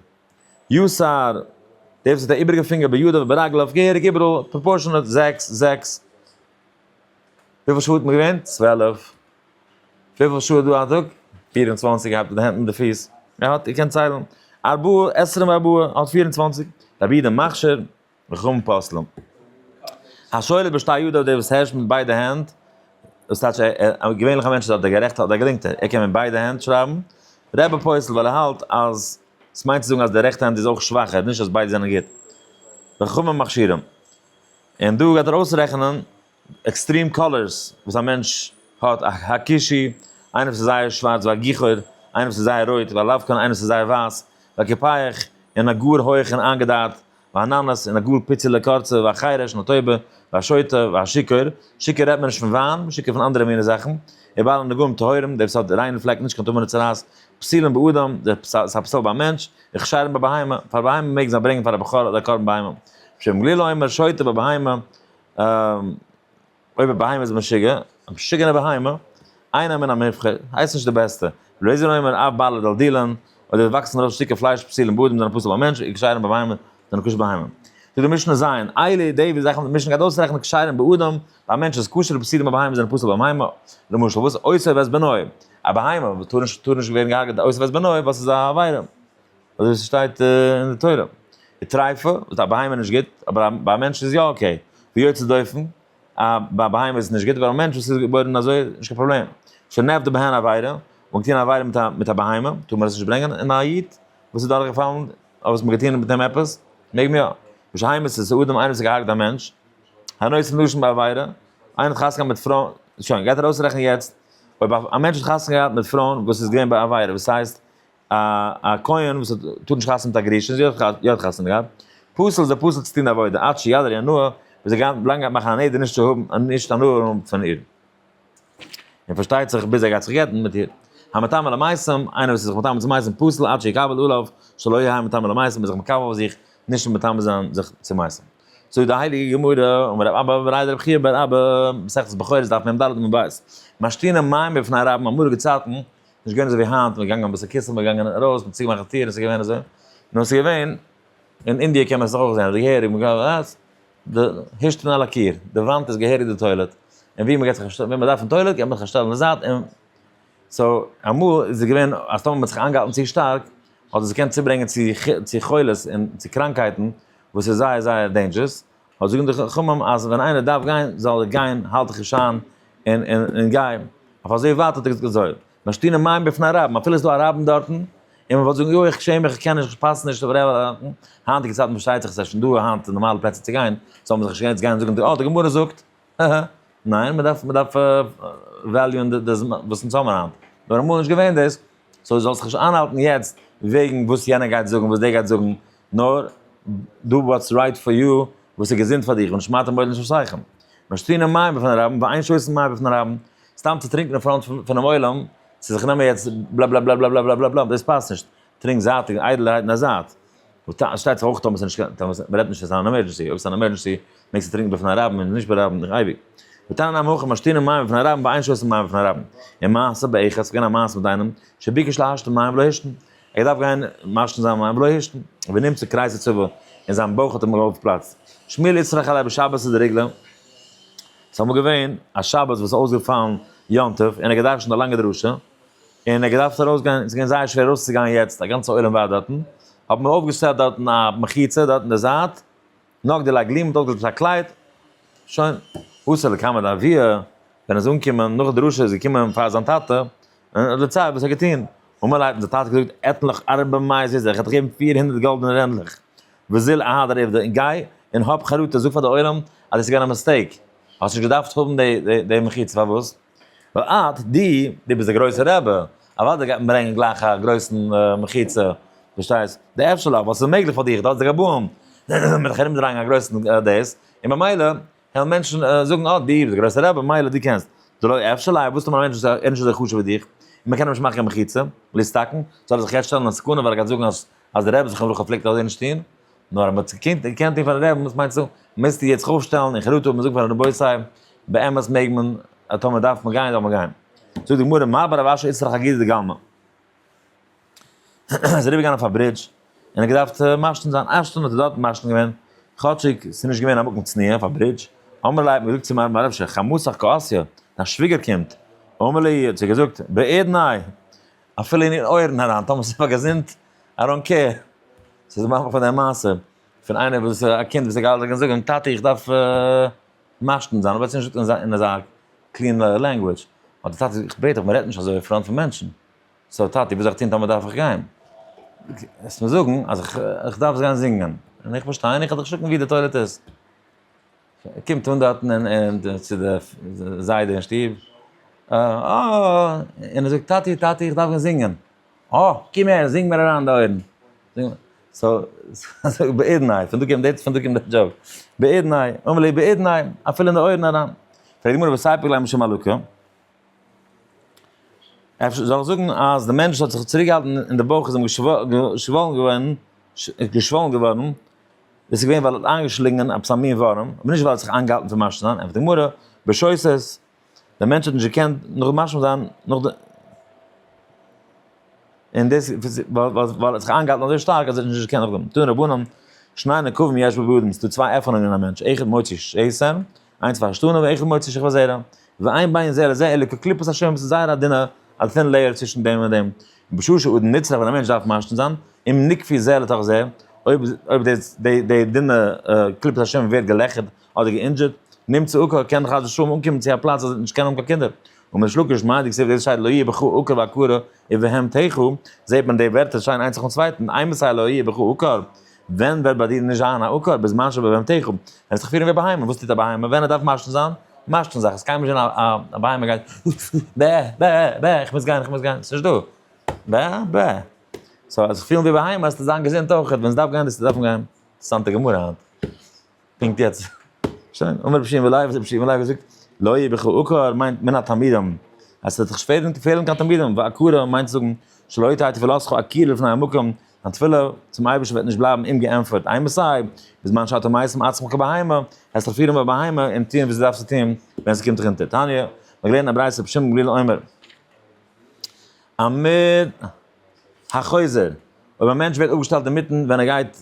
יו סר, דער וואס האט א איבריגע פינגער בידו וברגלו אויף געהעריג איבעראל, פראפארשענעט, זעקס, זעקס. וויפיל שעה האט מען געווען? צוועלף. וויפיל שעה איז דא א טאג? פֿיר און צוואַנציק געהאט מיט די הענט און די פיס. ער האט, איר קענט ציילן. ארבעה עשרים וארבעה האט פֿיר און צוואַנציק. רבי איד א מכשיר. מכאן פסלם. השואל בשתי ידיו דער וואס הערשט מיט ביידע הענט, דאס טייטש א געווענליכע מענטש האט די גערעכט האט די געלינקטע, ער קען מיט ביידע הענט שרייבן, ר' פסל ווייל ער האלט אז עס מיינט צו זאגן אז די רעכטע האנט איז אויך שוואכער, נישט אז ביידע זענען גוט. וחכמים מכשירים. און דא גייט ער אויסרעכענען עקסטרים קאלערס וואס א מענטש האט, א הקישי, איינער וואס איז זייער שווארץ ווי א גיכור, איינער וואס איז זייער רויט ווי א לאבקאן, איינער וואס איז זייער ווייס ווי א קופייח, און א גאר הויעך און איינגעדייט באנאנעס און א גאר פיצעלע קורצע והחרש און א טויבע והשוטה והשיכור, שיכור רעדט מען נישט פון וויין, שיכור פון אנדערע מיני זאכן, און בעלי נגעים טהורים, דער וואס האט ריינע פלעק נישט קיין טומאה נישט צרעת, פסולים באדם, דער וואס איז א פסול ביי א מענטש, וכשרים ביי בהמה, פאר בהמה מעגן זיי ברענגען פאר א בכור אדער א קרבן בהמה, שמעון גלילי אומר שוטה ביי בהמה, אויב א בהמה איז משוגע, א משוגענע בהמה, איינער מן המובחר, הייסט נישט די בעסטע, בלויז אן אומר אב בלע דל דילן, אויב עס וואקסן ארויס שטיקער פלייש פסיל און באדים זענען פסול ביי מענטש, און כשרים ביי בהמה, זענען כשר ביי בהמה. זאגט די משנה ז', איילע ידי ווי זאכן וואס די משנה גייט אויסרעכענען כשרים ביי אדם, ביי מענטש איז כשר און פסול ביי בהמה זענען פסול ביי בהמה, למשל וואס אויסער וועסט בנוי, א בהמה וואס טאר נישט טאר נישט ווערן געהארגעט אויסער וועסט בנוי, וואס איז א עבירה. אזוי ווי ס'שטייט אין די תורה. די טרייפע, וואס א בהמה איז נישט גוט, אבער ביי א מענטש איז יא אקעי. ווי יוצא דופן, א ביי א בהמה איז עס נישט גוט, אבער א מענטש וואס איז געבוירן אזוי, נישט קיין פראבלעם. שנעבט די בהן עבירה, און געטון עבירה מיט א מיט א בהמה, טאר מען עס נישט ברענגען, און א איד וואס איז דורכגעפאלן, אבער וואס מען האט געטון מיט אים עפעס, מעג מען יא. בשיימעס איז אדם איינער וואס האט געהארגט א מענטש, הנושא לשון בעבירה, איינער האט חתונה געהאט מיט פרוי, שוין, גייט ער אויסרעכענען יעצט, אויב א מענטש האט חתונה געהאט מיט פרויען וואס איז געווען ביי עבירה, וואס הייסט, א א כהן וואס האט טאר נישט חתונה מיט א גרושה, זי האט יא חתונה געהאט, פסול זי פסול צו טון עבודה, עד שיד על ינאה, וועט זי גיין לאנג גייט מאכן א נדר נישט צו האבן נישט הנאה האבן פון איר, און פארשטייט זיך ביז ער גייט זיך גט'ן מיט איר, המתאמר למעשים, איינער וואס איז זיך מתאמר צו מעשים פסול עד שיקבל עליו שלא יהיה המתאמר למעשים, איז זיך מקבל אויף זיך נישט מתאמר זיין זיך צו מעשים. זאגט די הייליגע גמרא, אמר רב אבא אמר רבי חייא בר אבא, מסכת בכורות דף מ ד עמוד ב', משתינים מים בפני רבים, אמאליגע צייטן נישט געווען אזוי ווי היינט, מ'איז געגאנגען אביסל קיצל, מ'איז געגאנגען ארויס, מ'האט צוגעמאכט די טיר, עס איז געווען אזוי. נו, עס איז געווען, אין אינדיע קען מען עס דאך אויך זען, אזוי געהעריג, מען גייט ארויס, די הישט און אלע קיר, די וואנט איז געהעריג די טוילעט, און ווי מ'גייט זיך אנשטעלן, ווי מ'דארף אין טוילעט גייט מען זיך אנשטעלן אין זייט און. סאו, אמאל איז עס געווען אז טאמער מ'האט זיך איינגעהאלטן צו שטארק, האט עס געקענט צוברענגען צו חולות און צו קראנקהייטן, וואס איז זייער זייער דעינדזשערעס, אויב זאגן די חכמים אז ווען איינער דארף גיין זאל ער גיין האלט דיך נישט איין און און און גיי אויף אזוי ווייט האט ער געזאגט אזוי משטינא מים בפני א רב אפילו איז דא א רבין דארטן און מען וואלט זאגן יוי איך שעם מיך איך קען נישט איך פאס נישט אויף רב היינטיגע צייטן פארשטייט זיך עס איז שוין דא היינט נארמאלע פלעצער צו גיין זאל מען זיך נישט יעצט גיין זאגן די אלטע גמרא זאגט אהה, ניין, מען דארף, מען דארף וועליוען די זמן וואס אונז האבן היינט. נאר אמאל איז נישט געווען דאס, סאו זאלסט זיך נישט איינהאלטן יעצט וועגן וואס יענער גייט זאגן, וואס דער גייט זאגן, נאר דו וואטס רייט פאר יו, וואס איז געזונט פאר דיך, און שמאטע מויל נישט אויסהייכן. נאר שטרינען מים בפני רבים, ואין שותין מים בפני רבים, סתם צו טרינקען אין פראנט פונעם עולם, צו זיך נעמען יעצט בלאבלאבלאבלאבלאבלאבלאבלאבלאב, דאס פאסט נישט. טרינק זייטיג און איידלערהייט אין א זייט. שטייט זיך אויך טאמער ס'איז נישט קיין, מ'רעדט נישט אז ס'איז אן עמערדזשענסי, אויב ס'איז אן עמערדזשענסי מעגסטו טרינקן בפני רבים און נישט ביי רבים אייביג. ותנא נמי הכה משתינן מים בפני רבים ביי איין שותן מים בפני רבים. און מעשה באחד, ס'געווען א מעשה מיט איינעם, שביקש להשתין מים ולא השתין. ער האט געדארפט גיין משתין זיין מים ולא השתין. ונמצא קרית הצבא, און זיין בויך האט אים אויפגעפלאצט. שמואל יצחק חלה בשבת איז דערגלא. ס'איז אמאל געווען א שבת וואס איז אויסגעפאלן יום טוב, און ער האט געדארשנט א לאנגע דרשה. און ער האט געדארפט ארויס גיין, עס איז געווען זייער שווער ארויס צו גיין יעצט, א גאנצע עולם ווארט דארטן, האבן מיר אויפגעשטעלט דארטן א מחיצה דארט אין די זייט, נאך די לייגלים האט אויפגעלאזט עפעס א קלייד, שוין, וואס ער קאמענד אויף ווי ער, ווען ער איז אנגעקומען נאך די דרשה איז געקומען פאר זיין טאטע, און האט דערציילט וואס ער האט געטון, אמאל האט די טאטע געזאגט עטליכע ארבע מאות איז ער, איך וועל דיר געבן פיר הונדערט גאלדענע רענדלעך, וזיל אהד אריווע און גיי און האב חרטה, זאג פאר די עולם אז עס איז געווען א מיסטעיק, האסט נישט געדארפט האבן די מחיצה, פארוואס? ווייל אט די, דו ביסט דער גרויסער רבי, אוודאי גייט מען ברענגען גלייך א גרויסן מחיצה, פארשטייסט, די אפשר'לעך וואס איז מעגליך פאר דיך, דו האסט די גבאים, מיט זיך ארומדרייען א גרויסן דאס, און ממילא וועלן מענטשן זאגן אט די, דער גרויסער רבי, ממילא דו קענסט, די לא אפשר ליה, וואס טוט מען א מענטש וואס איז נישט אזוי חשוב ווי דיך, און מ'קען אים נישט מאכן קיין מחיצה, להסתכן, זאל ער זיך יעצט שטעלן אין סכנה ווייל ער גייט זאגן אז דער רבי זכרונו לברכה פלעגט אזוי נישט טון, נאר אז מען האט עס געקענט געקענט טון פארן רעבען וואס מיינטס דא? מוזט דיר יעצט אויפשטעלן אין חרטה און זאגן פאר די רבותי זיי באמת מעג מען אז טאמער דארף מען גיין זאל מען גיין. זאגט די גמרא מה ברב אשר איסר חגיגה דגלמא. ער איז אריבערגעגאנגען אויף א ברידזש און ער האט געדארפט מעשן זיין אפשטאנד האט ער דארט מעשן געווען כאטשיג ס'איז נישט געווען א מקום צניעה אויף א ברידזש. אמר ליה האט מען געזאגט צו מרן מהרב אשר חמותך קאסיא דיין שוויגער קומט. אמר ליה האט זי געזאגט בעיד נאי אפילו אין איר אויערן אריין, טאמער ס'איז פאר געזונט, איי דאנט קעיר. ס'איז די מאמע פון די מעשה, פון איינער וואס איז א קינד וואס האט געהאלטן זיך און זאגן, טאטי איך דארף משתין זיין, אבער האט עס נישט געזאגט אין אזא קלין לענגוויטש, האט די טאטע געזאגט, איך בעט דיך, מען רעדט נישט אזוי אין פראנט פון מענטשן. סאו טאטי וואס זאל איך טון טאמער דארף איך גיין? וועסט מיר זאגן אז איך דארף גיין זינגען, און איך פארשטיי, און איך האב דיך געשריגן ווי די טוילעט איז. ער קומט אן דארטן אין אין די צו די זיידע אין שטוב, אה און ער זאגט טאטי טאטי איך דארף גיין זינגען, אה קום הער זינג מיר אריין די אויערן, סאו סאו בעידנאי, פון דא קומט די פון דא קומט די דזשאוק, בעידנאי אמר לי בעידנאי אפילו אין די אויערן אריין, פרעגט די גמרא וואס הייפט להם שם אלוקי. אפשר זאל איך זאגן אז די מענטש האט זיך צוריקגעהאלטן אין די בויך איז אים געשוואלן געווארן, געשוואלן געווארן, דאס איז געווען ווייל ער האט איינגעשלינגען עפעס א מין ווארעם, אבער נישט ווייל ער האט זיך איינגעהאלטן פון משלים זיין, ענטפערט די גמרא, בשויתת, דער מענטש האט נישט געקענט נאך משלים זיין נאך די, און דאס ווייל ער האט זיך איינגעהאלטן אזוי שטארק אז ער האט נישט געקענט נאכדעם, טוען רבנן, שני נקבים יש בבהמ ד, ס'איז דא צוויי עפענונגען אין א מענטש, אחד מוציא שסער, איינס פאר שטן און איכא מוציא שכבה זערא, ואין בין זה לזה אלא כקליפת השם וואס איז זייער א דינע א טין לעיער צווישן דעם און דעם, בשעה שאדם נצרך ווען א מענטש דארף משתין זיין, אם נקפיא זה לתוך זה, אויב אויב די די דינע קליפת השם ווערט געלעכערט אדער גע'אינדזשערט, נמצא עוקר קען חס ושלום אנקומען צו א פלאץ אז ער וועט נישט קענען האבן קיין קינדער. און ריש לקיש מאיר די כסדר דאס שטייט לא יהיה בך עוקר ועקרה ובהם תחו, זעט מען די ווערטער שיין איינס נאכן צווייטן, איי מסייע לא יהיה בך עוקר, ווען וועט ביי דיר נישט זיין א עוקר בזמן שבהמתך? ווען וועסט דיך פירן ווי א בהמה, וואס טוט א בהמה ווען ער דארף משכין זיין? משכין זיך, עס קען נישט זיין א א בהמה גייט ב ב ב איך מוז גיין איך מוז גיין, עס איז נישט דא ב ב, סאו זיך פילן ווי א בהמה, וועסטו זיין געזונט אויכעט, ווען עס דארף גיין וועסטו דארפן גיין, אינטערעסאנטע גמרא היינט. פונקט יעצט. שוין, אמר רבי שמעון לייב, האט רבי שמעון לייב געזאגט, לא יהיה בך עקר מיינט מן התלמידים, אז ס'וועט זיך שפעטער נישט פעלן קיין תלמידים, ועקרה מיינט צו זאגן, שלא יתר תפלתך עקיר לפני המקום, דיין תפילה צום אייבערשטן וועט נישט בלייבן אומגעענטפערט, איי מען סיי, בזמן שאתה מיישם עצמך כבהמה, העסט זיך פירן ווי א בהמה און טון וואס דו דארפסט צו טון ווען ס'קומט דיך אונטער. תניא, מ'האט געלערנט אין א ברייתא רבי שמעון גלילי אומר, עמוד החוזר, אויב א מענטש ווערט אפגעשטעלט אינמיטן ווען ער גייט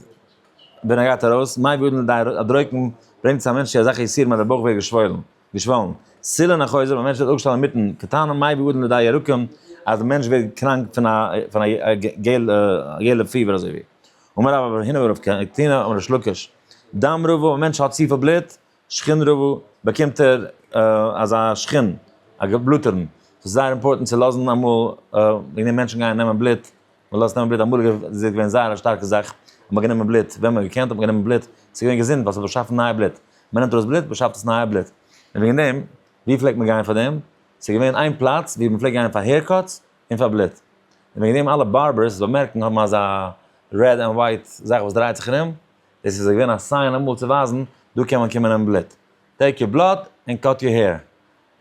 ווען ער גייט ארויס, מאי בידן לדאי, א דרוקן ברענגט צו א מענטש צו אזעלכע יסורים אז דער בויך ווערט געשוואלן, געשוואלן. סילון החוזר, אויב א מענטש ווערט אפגעשטעלט אינמיטן קטנ'ען, מאי בידן לדאי ירקון, אז דער מענטש ווערט קראנק פון א פון א יעלא פיבער אזוי ווי. אמר רבא בר הינא ורב קטינא אמר ריש לקיש, דם רבו, א מענטש האט צופיל בלוט, שכן רבו, באקומט ער אזא שכן, א געבלוטערן, ס'איז זייער אימפארטענט צו לאזן אמאל, וועגן דעם מענטשן גייען נעמען בלוט, מ'לאזט נעמען בלוט, אמאליגע איז עס געווען זייער א שטארקע זאך, אז מ'האט גענומען בלוט, ווען מ'האט געקענט האט מען גענומען בלוט, ס'איז געווען געזונט ווייל ס'האט באשאפן נייע בלוט, מ'נעמט ארויס בלוט באשאפט עס נייע בלוט, און וועגן דעם, ווי פלעגט מען גיין פאר דעם? ס'איז געווען איין פלאץ ווי מ'פלעגט גיין פאר העיר קאטס און פאר בלוט, און וועגן דעם אלע בארבערס, וועסט באמערקן, האבן אזא רעד ענד ווייט זאך וואס דרייט זיך ארום, דאס איז געווען א סיין אמאל צו ווייזן, דא קען מען קומען נעמען בלוט. טעיק יור בלאד ענד קאט יור העיר.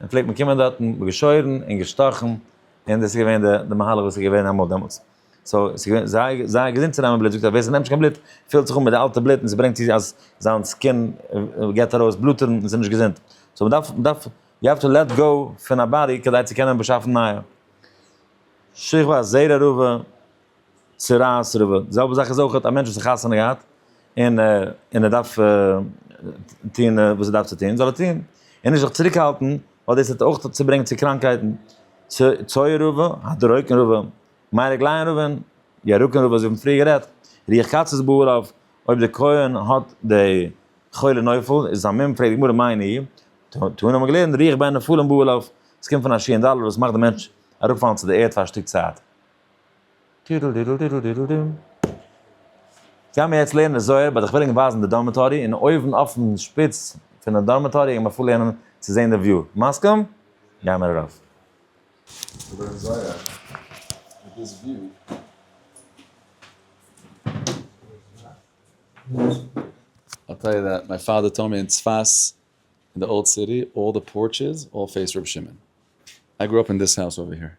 און פלעגט מען קומען דארטן, געשוירן און געשטאכן, און דאס איז געווען די די מהלך וואס איז געווען אמאל דעמאלטס. סאו, עס איז געווען זייער זייער געזונט צו נעמען בלוט, זאגט ער ווער ס'נעמט נישט קיין בלוט, פילט זיך אן מיט די אלטע בלוט און ס'ברענגט צו אז זיין סקין געבט ארויס בלוטערן און ס'איז נישט געזונט. סאו, מ'דארף מ'דארף יו האוו טו לעט גאו פון א באדי כדי צו קענען באשאפן נייע. שכבה זערא רבא, צרעת רב, די זעלבע זאך איז אויך א מענטש וואס האט חתונה געהאט, און און ער דארף טוהן וואס ער דארף צו טוהן, זאל ער טוהן, און נישט זיך צוריק האלטן, ווייל דאס וועט אויך צו ברענגען צו קראנקהייטן, צויי רב, הדרוקן רב, מיין רגליים רבען, ירקן רב, אזוי האבן פריער גערעדט, רוח קצות בעורף, אויב די כהן האט די חולה נופל, איז עס א מום, פרעגט די גמרא מאי נהי', תנא האט מען געלערנט, רוח בין נפלים בעורף, עס קומט פון א שיענדאלער וואס מאכט די מענטש אראפ פאלן צו די ערד פאר א שטיק צייט. טידל דידל דידל דידל דום. גייען מיר יעצט לערנען זוהר, באט איך וויל ענק ווייזן די דארמעטארי, און אויבן אויפן שפיץ פונעם דארמעטארי גייען מיר אפלערנען צו זעהן די וויו. מסכים? גייען מיר ארויף. געלערנט זוהר מיט דאס וויו. I'll tell you that, my father told me in צפת in the old city all the porches all face ר' שמעון. I grew up in this house over here.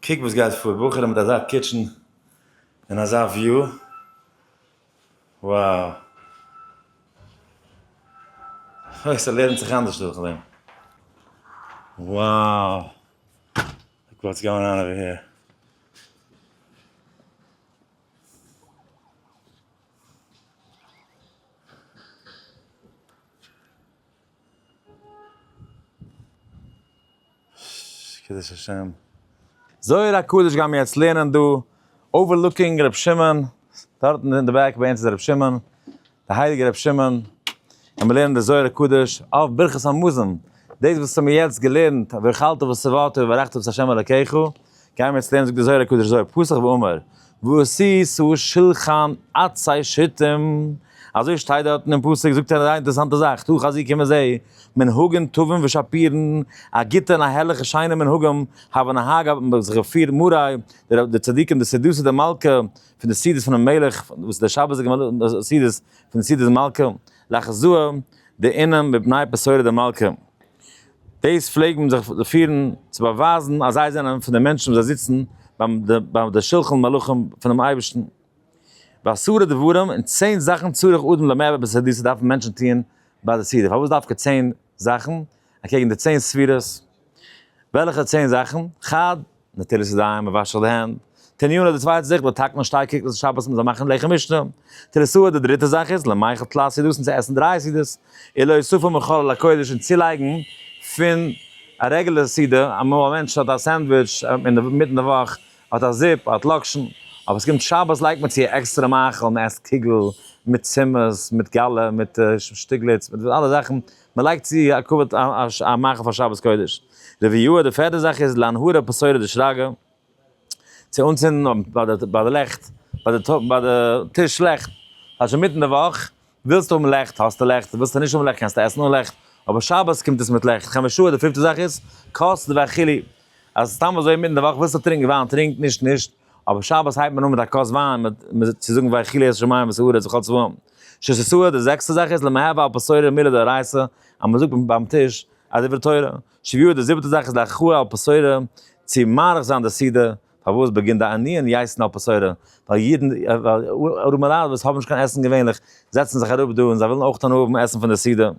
קוק וואס גייט פאר, בחורים מיט אזא קיטשען און אזא וויו, wow. אוי ס'לערנט זיך אנדערש דורך דעם. wow. לוק וואטס גאון אן אווער העיר. קידוש השם. זוהר הקדוש גיימיר יעצט לערנען דא, אווערלוקינג ר' שמעון, דארטן אין די בעק ביי אונז איז ר' שמעון, די הייליגע ר' שמעון, און מיר לערנען די זוהר הקדוש אויף ברכת המזון, דאס וואס האמיר יעצט געלערנט, ואכלת ושבעת וברכת את ה' אלקיך, גיימער צו דעם זאגט דער זוהר הקדוש אזוי, פסח ואמר, ועשי שא שלחן עצי שטים, אזוי שטייט דארט אינעם פסוק, זאגט ער א זייער אינטערעסאנטע זאך, תוה חזקי מזה, מנהגים טובים ושפירן, א גוטע און א הערליכע שיינע מנהגים, הבה נהג אבי האבן זיך געפירט מוראי, די צדיקים די סעדותא דמלכא, פון די סעדות פונעם מלך, וואס די שבת איז געווען די סעדות פון די סעדות דמלכא, לאחזו די עינים מפני בשורה דמלכא. דאס פלעגט מען זיך פירן צו באווייזן אז זיי זענען פון די מענטשן וואס זיי זיצן ביים די שלחן מלכים פונעם אייבערשטן. בעשרה דברים אין צען זאכן צריך אדם לעמער בסעדות וואס דארפן מענטשן טוען ביי די סעודה. פארוואס דווקא צען זאכן אקעגן די צען ספירות? וועלכע צען זאכן? חד. נטילת ידיים, וואשעך די הענט. תניאנה די צווייטע זאך, באטאקט מען שטארק קוקלעך שבת מ'זאל מאכן לחם משנה. תריסאה די דריטע זאך איז, למאכל תלת סעודות און צו עסן דריי סעודות, און להוסיפו מחלל הקודש און צולייגן פון א רעגולער סעודה, אמאל א מענטש האט א סענדוויטש אינמיטן די וואך, האט א זופ, האט לאקשן, אבער ס'קומט שבת לייגט מען צו עקסטערע מאכל, מ'עסט קוגל מיט צימעס, מיט גאלע, מיט שטיגליץ, מיט אלע זאכן מען לייגט צו א כבוד א מאכל פאר שבת קודש. רביעו די פערטע זאך איז להנהר ע פ סוירא די שרגא צו אנצינדן ביי די לעכט ביי די טיש לעכט כאטש אינמיטן די וואך ווילסטו האבן לעכט האסטו לעכט ווילסטו נישט האבן לעכט קענסטו עסן אן לעכט אבער שבת קומט עס מיט לעכט חמשו ע די פיפטע זאך איז כוס די והכלי אז סתם אזוי אינמיטן די וואך ווילסטו טרינקן וויין טרינק נישט נישט אבער שבת הייבט מען אן מיט א כוס וויין מיט מיט צו זאגן ויחי ליל שמים וסעודת וכל צבאם. ש ס סעודה די זעקסטע זאך איז למהר ועל פה סוירין מילה דאורייתא אז מען זאגט ביים טיש א דברי תורה. ש י די זיבעטע זאך איז להכרעה על פה סוירין צו מאריך זיין די סעודה פארוואס באגינט די ענין יעסן על פה סוירין ווייל אידן ארומעלייט וואס האבן נישט קיין עסן געווענליך זעצן זיך אראפ דא און זיי ווילן אויך האבן עסן פון די סעודה.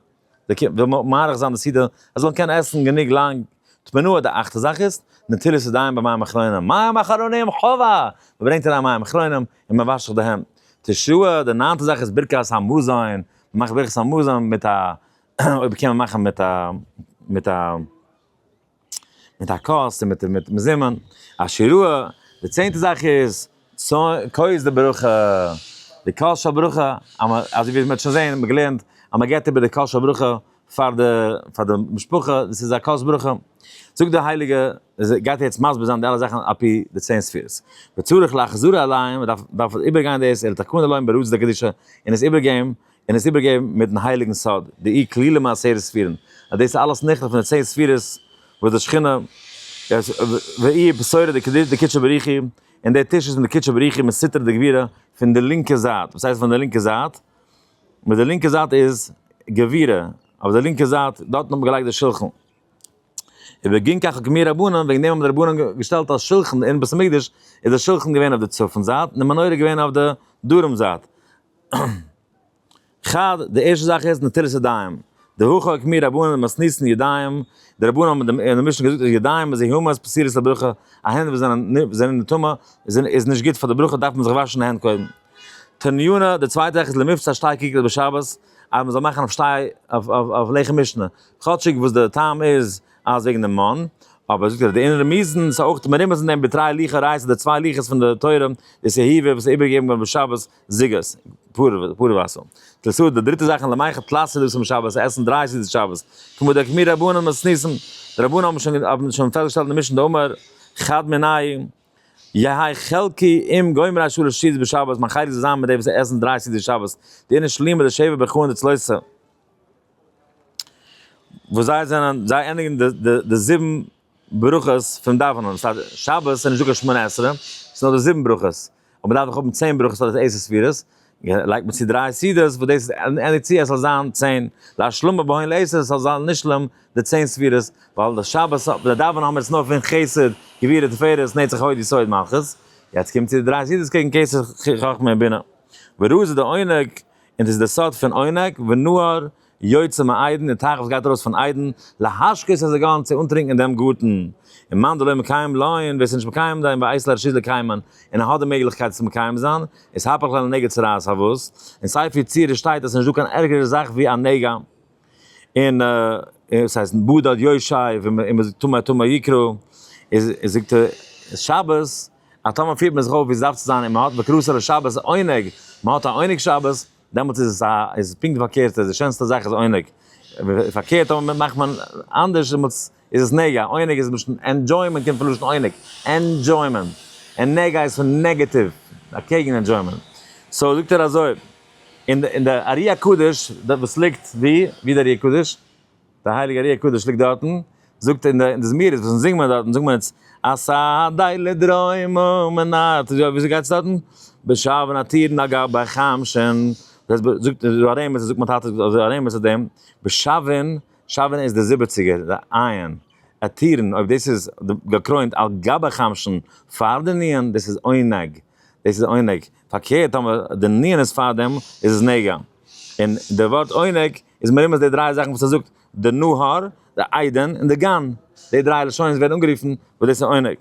די קינד וויל מ מאריך זיין די סעודה זיי זאלן קענען עסן גענוג לאנג תמנו די אכטע זאך איז נטילת ידיים במים אחרונים מים אחרונים חובה מען ברענגט אריין מים אחרונים און מען וואשט זיך די הענט תשעה די ניינטע זאך איז ברכת המזון מען מאכט ברכת המזון מיט א אויב קען מען מאכן מיט א מיט א מיט א כוס און מיט מיט מזומן, אשר ראה, די צענטע זאך איז, כוס די ברכה, די כוס של ברכה, אז מען, אזוי ווי מען האט שוין זעהן, מען האט געלערנט, אז מען געבט איבער די כוס של ברכה, פאר די, פאר די משפחה, דאס איז א כוס ברכה, זאגט דער הייליגע, גייט ער יעצט מסביר זיין די אלע זאכן על פי די צען ספירות, וצריך להחזיר עליהם, מען דארף, דארף איבער גיין דאס, אל תקון עליהם ברעות דקדישא, און עס איבער געבן, און עס איבערגעבן מיטן הייליגן סוד, די אי כלילה מעשרת ספירין, אז דאס איז אלעס נכלל פון די צען ספירות וואס די שכינה איז, והיא היא בשורה דקדישא דקודשא בריך היא, און דער טיש איז פון די קודשא בריך היא מיט סיטרא דגבירא פון די לינקע זייט, וואס הייסט פון די לינקע זייט? מיט די לינקע זייט איז גבירא, אויף די לינקע זייט, דארטן האט מען געלייגט די שלחן. ובגין כך הקמיא רבנן, וועגן דעם האבן די רבנן געשטעלט א שלחן אין בית המקדש, איז דער שלחן געווען אויף די צפון זייט, און די מנורה געווען אויף די דרום זייט, חד, די ערשטע זאך איז נטילת ידיים, דהא חוק מיר רבנן למסנית'ן ידיים, די רבנן האבן אין די משנה געזאגט אז ידיים איז זיהומות פסולות לברכה, א הענט וואס זענען זענען נטמא איז נישט גוט פאר די ברכה דארף מען זיך וואשן די הענט קודם. תניונה, די צווייטע זאך איז למבצע שתי כיכרות בשבת, אז מען זאל מאכן אויף שתי אויף לחם משנה, כאטשיג וואס די טעם איז אז וועגן די מן, אבער זאגט ער אז די אין רמיזן איז אויך מרומז אין דעם בתרי ליכא רייסט די צוויי ליכעס פון די תורה, דאס איז העיבור וואס איז איבערגעגעבן געווארן בשבת, זוגות, פּאָר, פּאָר װאָסער. תּלסוד, די דריטע זאַך אין למאַי כ תּלס' סעודות אום שבת, עסן דרײַ סעודות שבת, כּמו דאקמיר רבנן מסניסן. די רבנן האָבן שוין, האָבן שוין פֿעסטגעשטעלט אין משנ ד אמר חד מיני, יהי' חלקי עם גומרי שלש סעודות בשבת, מיין חלק זאָל זײַן מיט די, װאָס עסן דרײַ סעודות שבת, די אינן שלימות, די שבע ברכהן, די צלויסע, װאָס זיי זענען, זיי ענדיקן די, די, די זיבן ברכות פון דאווענען, סא שבת איז נישט דא קיין שמונה עשרה, ס'איז נאר די זיבן ברכות, אבער מ'דארף דאך האבן צען ברכות פאר די עשר ספירות, לייגט מען צו דריי סעודות וואס דאס איז עני צי עס זאל זיין צען, להשלמה בהון לעשר עס זאל זיין נשלם די צען ספירות, ווייל די שבת האט די דאווענען האבן מיר עס נאר פון חסד גבורה תפארת נצח הוד יסוד מלכות, יעצט קומט צו די דריי סעודות קעגן כסף חכמה און בינה, ורעות איז די עונג און דאס איז די סוד פון עונג, ונוער יוצא מעדן און תיכף גייט ארויס פון עדן, להשקות את הגאון צו אנטרינקן אין דעם גארטן, און מאן דלא מקיים לאין, ווער עס איז נישט מקיים דאין ואיס להרשיז לקיימן, און ער האט די מעגליכקייט עס מקיים זיין, איז הפך ליה לנגע צרעת האבות, אין ספר יצירה שטייט אז עס איז נישט דא קיין ערגערע זאך ווי א נגע, און עס הייסט בדד יושעי וטמא טמא יקרא, איז זאגט ער איז שבת אז טאמער פירט מען זיך אויף ווי עס דארף צו זיין און מען האט בקרסה לשבת עונג, מען האט א עונג שבת, דעמאלטס איז עס א איז פונקט פארקערט איז די שענסטע זאך איז עונג פארקערט אויב מאכט מען אנדערש דעמאלטס איז עס נגע עונג איז מלשון ענדזשוימענט קומט פון לשון עונג ענדזשוימענט און נגע איז פון נעגעטיוו אקעגן ענדזשוימענט סאו זאגט ער אזוי אין די ארי הקדוש וואס ליגט ווי ווי איז די ארי הקדוש? דער הייליגער ארי הקדוש ליגט דארטן, זאגט אין די זמירות וואס אונז זינגט מען דארטן זאגט מען אונז, עשה די לדרום ומנאר, וויאזוי גייט עס דארטן? בשער ונתיר נגר בחם שן, זאגט דא ארעמעס זאגט מיין טאטע אזוי ארעמעס אויף דעם, בשעווען, שעווען איז די זיבעציגער די עיין, עתירין אויב דאס איז געקרוינט על גבי חם שן פאר די ניען דאס איז עונג, דאס איז עונג, פארקערט טאמער די ניען איז פאר דעם איז עס נגע, און די ווארט עונג איז מרומז די דריי זאכן וואס ער זאגט, די נהר, די איידען, און די גן, די דריי לשונות ווערן אנגערופן וואס דאס איז עונג.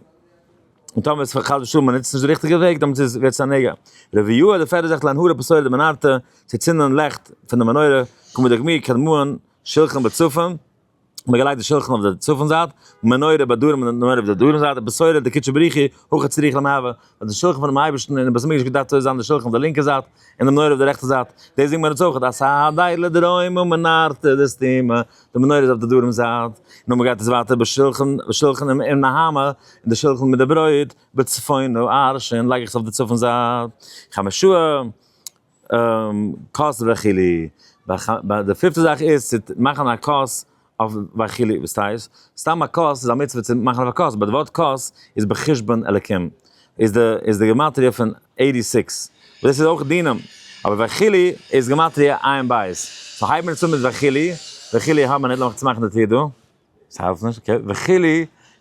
און טאמער איז חס ושלום מען נוצט נישט די ריכטיגע וועג דעמאלטס איז ווערט עס א נגע. רבי יהודה די פערדע זאגט להנהר הפסולת דמנהרתא, צו צינדן לעכט פון די מנורה, כמדגמי קדמון שלחן בצפון, און מען געלייגט די שלחן אויף די צפון זייט, און מנורה ביי דרום און מנורה אויף די דרום זייט, די בשורה די קודשא בריך הוא, הוכה צריך למהבה, וואס די שלחן פונעם אייבערשטן אין די בית המקדש געדארפט אויסזען די שלחן אויף די לינקע זייט, און די מנורה אויף די רעכטע זייט, דאס זינגט מען אונז אויך, אז הדאי לדרום ומנרתא דסתימא, די מנורה איז אויף די דרום זייט, נו מען גייט עס ווייטער בשלחן, בשלחן עם עם נהמא, און די שלחן מיט די ברויט, בצפון הוא ארשה, לייג איך עס אויף די צפון זייט, חמשוה, כוס וכו', ביי די פיפטע זאך איז צו מאכן א כוס אויף וכו', וואס טייטש? סתם א כוס איז א מצוה צו מאכן אויף א כוס, באט די ווארט כוס איז בחשבון אלקים, איז די איז די גמטריא פון עיטי סיקס, דאס איז אויך דינא, אבער וכו' איז גמטריא עיין בית, סאו הייבן מיר עס אן מיט וכו', וכו' האמער ניט, לאמיר צומאכן די טיר דא. ס'האלט נישט, אקעי, וכו'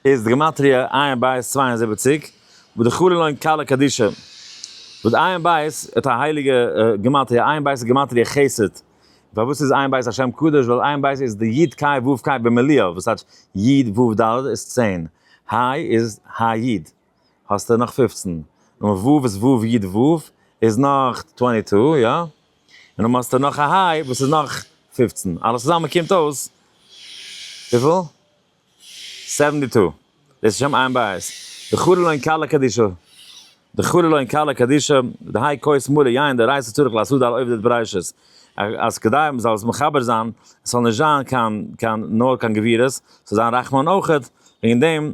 איז די גמטריא עיין בית צוויי און זיבעציק, וואס די חלה לוין קלה קדישא, וואס עיין בית האט א הייליגע גמטריא, עיין בית איז גמטריא חסד, פארוואס איז עיין בית א שם קדוש, ווייל עיין בית איז די י ק ו ק במיליא, וואס הייסט י ו ד איז צען, ה' איז ה י. האסטו נאך פֿופֿצן, נומער ו' איז ו' י' ו' איז נאך טווענטי טו, יא? און אויב האסטו נאך א ה' וואס איז נאך פֿופֿצן, אלעס צוזאמען קומט אויס וויפיל? סעווענטי טו, דאס איז שם עין בית, דחוללא אין כלה קדישא, דחוללא אין כלה קדישא, דהאי כוס מלא יין דאורייתא צריך לעשות דל עובדא דבראשית, אז כדי מען זאל עס מחבר זיין, עס זאל נישט זיין קיין קיין נאר קיין גבירות, עס זאל זיין רחמן אויכעט, וועגן דעם.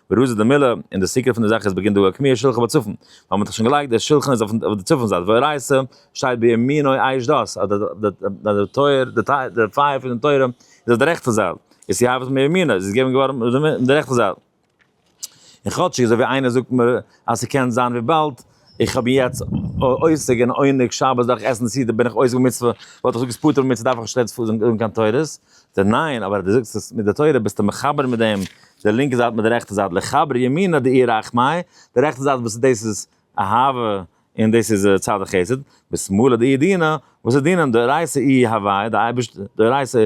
ברוז די מילא, און די סיקור פון די זאך איז בגין דא א קמיע שולחן בצפון, ווייל מ'האט דאך שוין געלייגט די שולחן איז אויף די צפון זייט, והראיה ס, שטייט בימינו עייש דאס, אז די טויער, די פייער פון די תורה, איז אויף די רעכטע זייט, איז צו האוות מימינו, איז עס געגעבן געווארן אויף די רעכטע זייט. און כאטשיג אזוי ווי איינער זאגט מיר אז ס'קען זיין וויבאלד איך האב יעצט עוסק אין עונג שבת דארף איך עסן צו די בין איך עוסק במצוה וואלט איך געזאגט פטור במצוה דארף איך נישט רעדן פון זאגן קיין תורות די ניין אבער די זאגסט עס מיט די תורה ביסטו מחבר מיט דעם די לינקע זייט מיט די רעכטע זייט לחבר ימינא דאי רחמי די רעכטע זייט וואס דאס איז אהבה און דאס איז צד החסד ושמאלה דאי דינא וואס איז דינא דאורייתא אי הוויה די אייבערשטער דאורייתא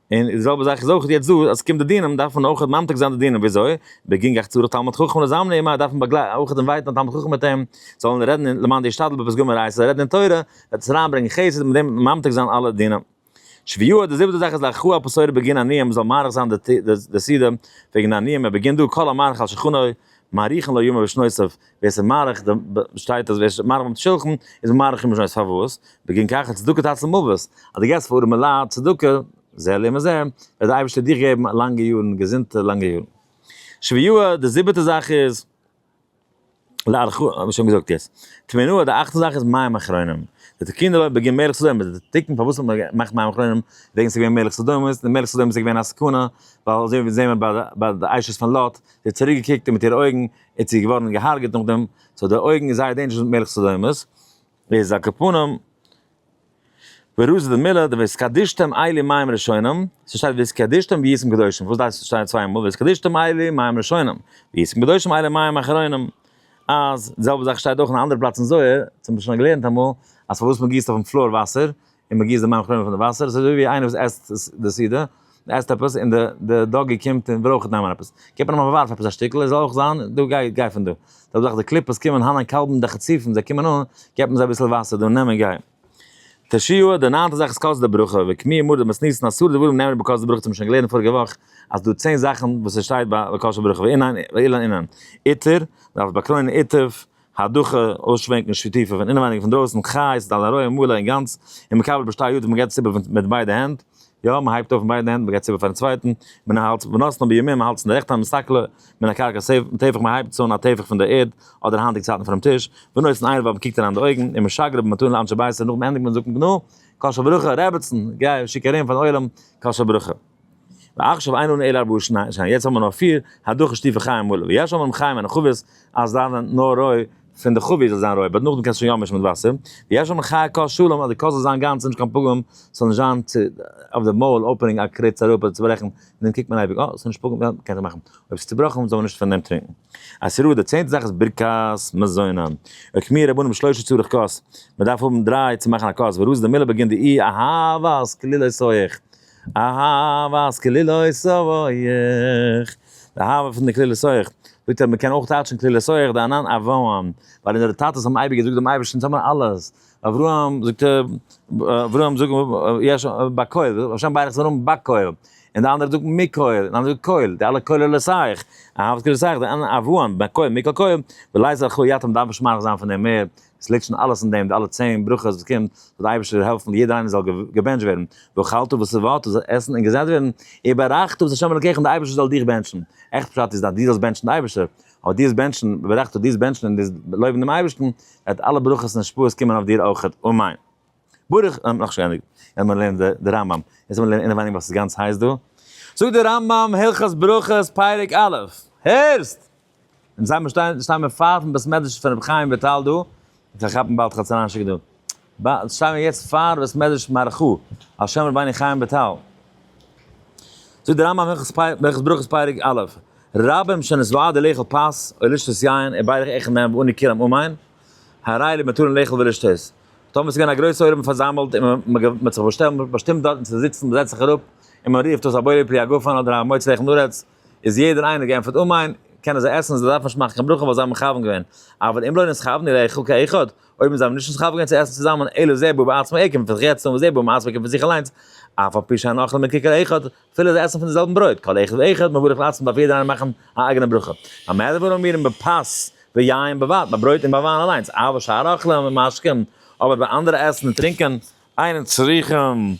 און די זעלבע זאך איז אויך יעצט דא אז ס'קומט די דינים דארף מען אויך ממתיק זיין די דינים וויאזוי בגין גח צרות תלמיד חכם לזמני עמו דארף מען באגלייטן אויך דעם ווייטן תלמיד חכם מיט אים זאלן רעדן אין למען ישתדל בפסגה מרעי זאל רעדן אין תורה וועט עס אריינברענגען חסד מיט דעם ממתיק זיין אלע דינים שביעו די זיבעטע זאך איז לאחו הפסורי בגין עניים מ'זאל מאריך זיין די סידור וועגן עניים ער בגין דא כל המאריך על שכנו מאריכין לו ימיו ושנותיו ווער ס'איז מאריך די ב ב שטייט אז ווער ס'איז מאריך ביים שולחן איז מאריך אין משניות פאר וואס בגין כך האט צדקה תצל מוות אז די געסט פאר ארעמע לייט צדקה זה לעם הזה וועט די אייבערשטער דיך געבן א לאנגע יארן געזונטע לאנגע יארן שביעיו די זיבעטע זאך איז לארכו האב איך שוין געזאגט יעצט תמנו די אכטע זאך איז מים אחרונים די תיקון די לויט בגין מלך סדום די תיקון פארוואס האט מען געמאכט מים אחרונים וועגן ס'איז געווען מלך סדום איז די מלך סדום איז געווען א סכנה ווייל אזוי ווי זעהן מיר ביי די אשת פון לוט זי האט צוריק געקוקט מיט אירע אויגן איז צו געווארן געהארגעט נאכדעם, סאו די אויגן איז זייער דעינדזשערעס מיט מלך סדומ'ס, איז א קופונים, ורוז די מילה די והתקדשתם אלי מים ראשונים, ס'שטייט והתקדשתם ביסים קדושים, וואס דאס שטייט צוויי מאל והתקדשתם אלי מים ראשונים, ביסים קדושים אלי מים אחרונים, אז די זעלבע זאך שטייט אויך אין א אנדערע פלאץ אין זוהר, האט מען שוין געלערנט אמאל, אז פארוואס מען גיסט אויפן פלאר וואסער, און מען גיסט די מים כלומר פון די וואסער, עס איז אזוי ווי איינער וואס עסט די סעודה, ער עסט עפעס און די די דאגי קומט און ברויך נעמען עפעס, גיבט מען אים אבער ווארף עפעס א שטיקל, ער זאל אויך זיין, דו גיי גיי פון דא, זעלבע זאך די קליפות קומען הן הקלבים די חצופים זיי קומען אן, גיבט מען זיי אביסל וואסער דא נעם און גיי. תשיעא, די ניינטע זאך איז קאסט די ברכה, וקמיע מרת דמות ניסן אסור דברים נאמרים בקאסט די ברכה צו האבן שוין געלערנט פאריגע וואך אז דא צען זאכן וואס עס שטייט ביי קאסט די ברכה ואילן אינן, איטער, דארפסט באקרוינען איטב, הדחה, אויסשווענקן שטיפער פון אינעווייניג און פון דרויסן, כ א איז עס א לרויע מלא און גאנץ, און מקבל בשתי ידיו מען געבט עס איבער מיט ביידע הענט, יא מען הייבט אויף מיט ביידע הענט מען געבט עס איבער פארן צווייטן, מן ההלצה ונתנה בימין מען האלט עס אין די רעכטע האנט מסתכלה מן הקרקע סעיף און טפח מען הייבט עס אן א טפח פון די ערד אדער היינטיגע צייטן פונעם טיש, ונותן עין ואבן קוקט אריין אין די אויגן, און משגר אבן מתנה לאנשי ביתו נאכן ענדיגן זאגט מען גנא, קאשע ברכה, רעבעצן, גיי שיק ארום פארן עולם, קאשע ברכה. ועכשיו איינו אלא ארבעה שניים, יעצט האבן מיר נאר פיר, הדחו שטיפע חיים מלא, ויש אומרים חיים און חבית אז זיין נאר רוי, פון די חבית זאל זיין רוי, באט נאכדעם קענסטו שוין יא מישן מיט וואסער, ויש אומרים חי ק שלום אז די ק זאל זיין גאנץ נישט קיין פגם, ס'זאל נישט זיין צו אויף די מויל אפענינג א קריץ אראפ אדער צוברעכן, און דעם קוקט מען אייביג אה ס'נישט פגם יא מ'קען זיך מאכן, אויב ס'איז צובראכן זאל מען נישט פון דעם טרינקן. עשרה די צענטע זאך איז ברכת מזון, אויך מיר רבנים שלושה צורך כוס, מ'דארף האבן דריי צו מאכן א כוס, ורוז דמילה בגין די אי אהבת כליל עשו איך. אהבת כלילות אויך, די אהבה פון די כלילות אויך, זאגט ער מען קען אויך טייטשן כלילות אויך די ענן אברהם, ווייל אונזערע טאטעס האבן אייביג געזאגט דעם אייבערשטן טו מיר אלעס, אברהם זאגט אברהם זאגט יש בקהל, השם ברך זיין נאמען בקהל, און די אנדערע זאגן מקהל, און אנדערע קהל, די אלע כוללות אייך, אהבת כלילות אייך, די ענן אברהם, בקהל, מקהל קהל, ולייזער ח יתום דארף מען שמייליך זיין פון אים מער, עס ליגט שוין אלעס אין דעם, די אלע צען ברכות וואס קומט, זאל די אייבערשטער יעלפן יעדער איינער זאל געבענטשט ווערן, ואכלת ושבעת, זאל עסן און געזעט ווערן, וברכת ואת ה' אלוקיך און די אייבערשטער זאל דיך בענטשן, עכ פ פשט איז אז דו זאלסט בענטשן די אייבערשטער, אבער דו זאלסט בענטשן, וברכת דו זאלסט בענטשן און דאס לויבן דעם אייבערשטן, וועט אלע ברכות און השפעות קומען אויף דיר אויכעט, אמן. ברוך און נאך שוין ענדיגט עמער לערנען די רמב ם יעצט עמער לערנען אינעווייניג וואס איז גאנץ הייס דא זאגט די רמב ם הלכות ברכות פרק א' הערסט אונז זעמער שטיין שטיין מיר פארן בית מדרש פון רבי חיים וויטאל דא איך וועל כאפן באלד חתן אנשיק דא ב שטיין מיר יעצט פאר בית מדרש מהר ח על שם רבינו חיים וויטאל זאגט די רמב ם הלכות פרק הלכות ברכות פרק א' רבים שנזוועה די לאכול פת אוי לשתות יין און ביידע עכ נ ואני כולם אמיין הראי למתרין לאכול ולשתות דאן איז געווען א גרויסע עולם פארזאמלט און מען האט זיך באשטעלט באשטימט דארטן צו זיצן, מען זעצט זיך אראפ און מען רופט אויס א בורא פרי הגפן אדער א מוציא לחם לארץ, איז יעדער איינער געענטפערט אמן, קענען זיי עסן, זיי דארפן נישט מאכן קיין ברכה ווייל זיי האבן מכוון געווען, אבל אם לא נתכוונו לאכול כאחד, אויב זיי האבן נישט נתכוון געווען צו עסן צוזאמען אלא זה בא בעצמו עקב פון זיך יעצט און וזה בא מעצמו עקב פון זיך אליינס, אף על פי שאין אוכל מקרקע לאחד, פילע זיי עסן פון די זעלבן ברויט, כל אחד ואחד מבורך לעצמו דארף יעדער איינער מאכן א אייגענע ברכה, במה דבר אומרים בפת ויין בבת ביי ברויט און ביי וויין אליינס, אבער שאר אכלים ומשקים אבער ביי אנדערע עסן און טרינקען, עיין צריכים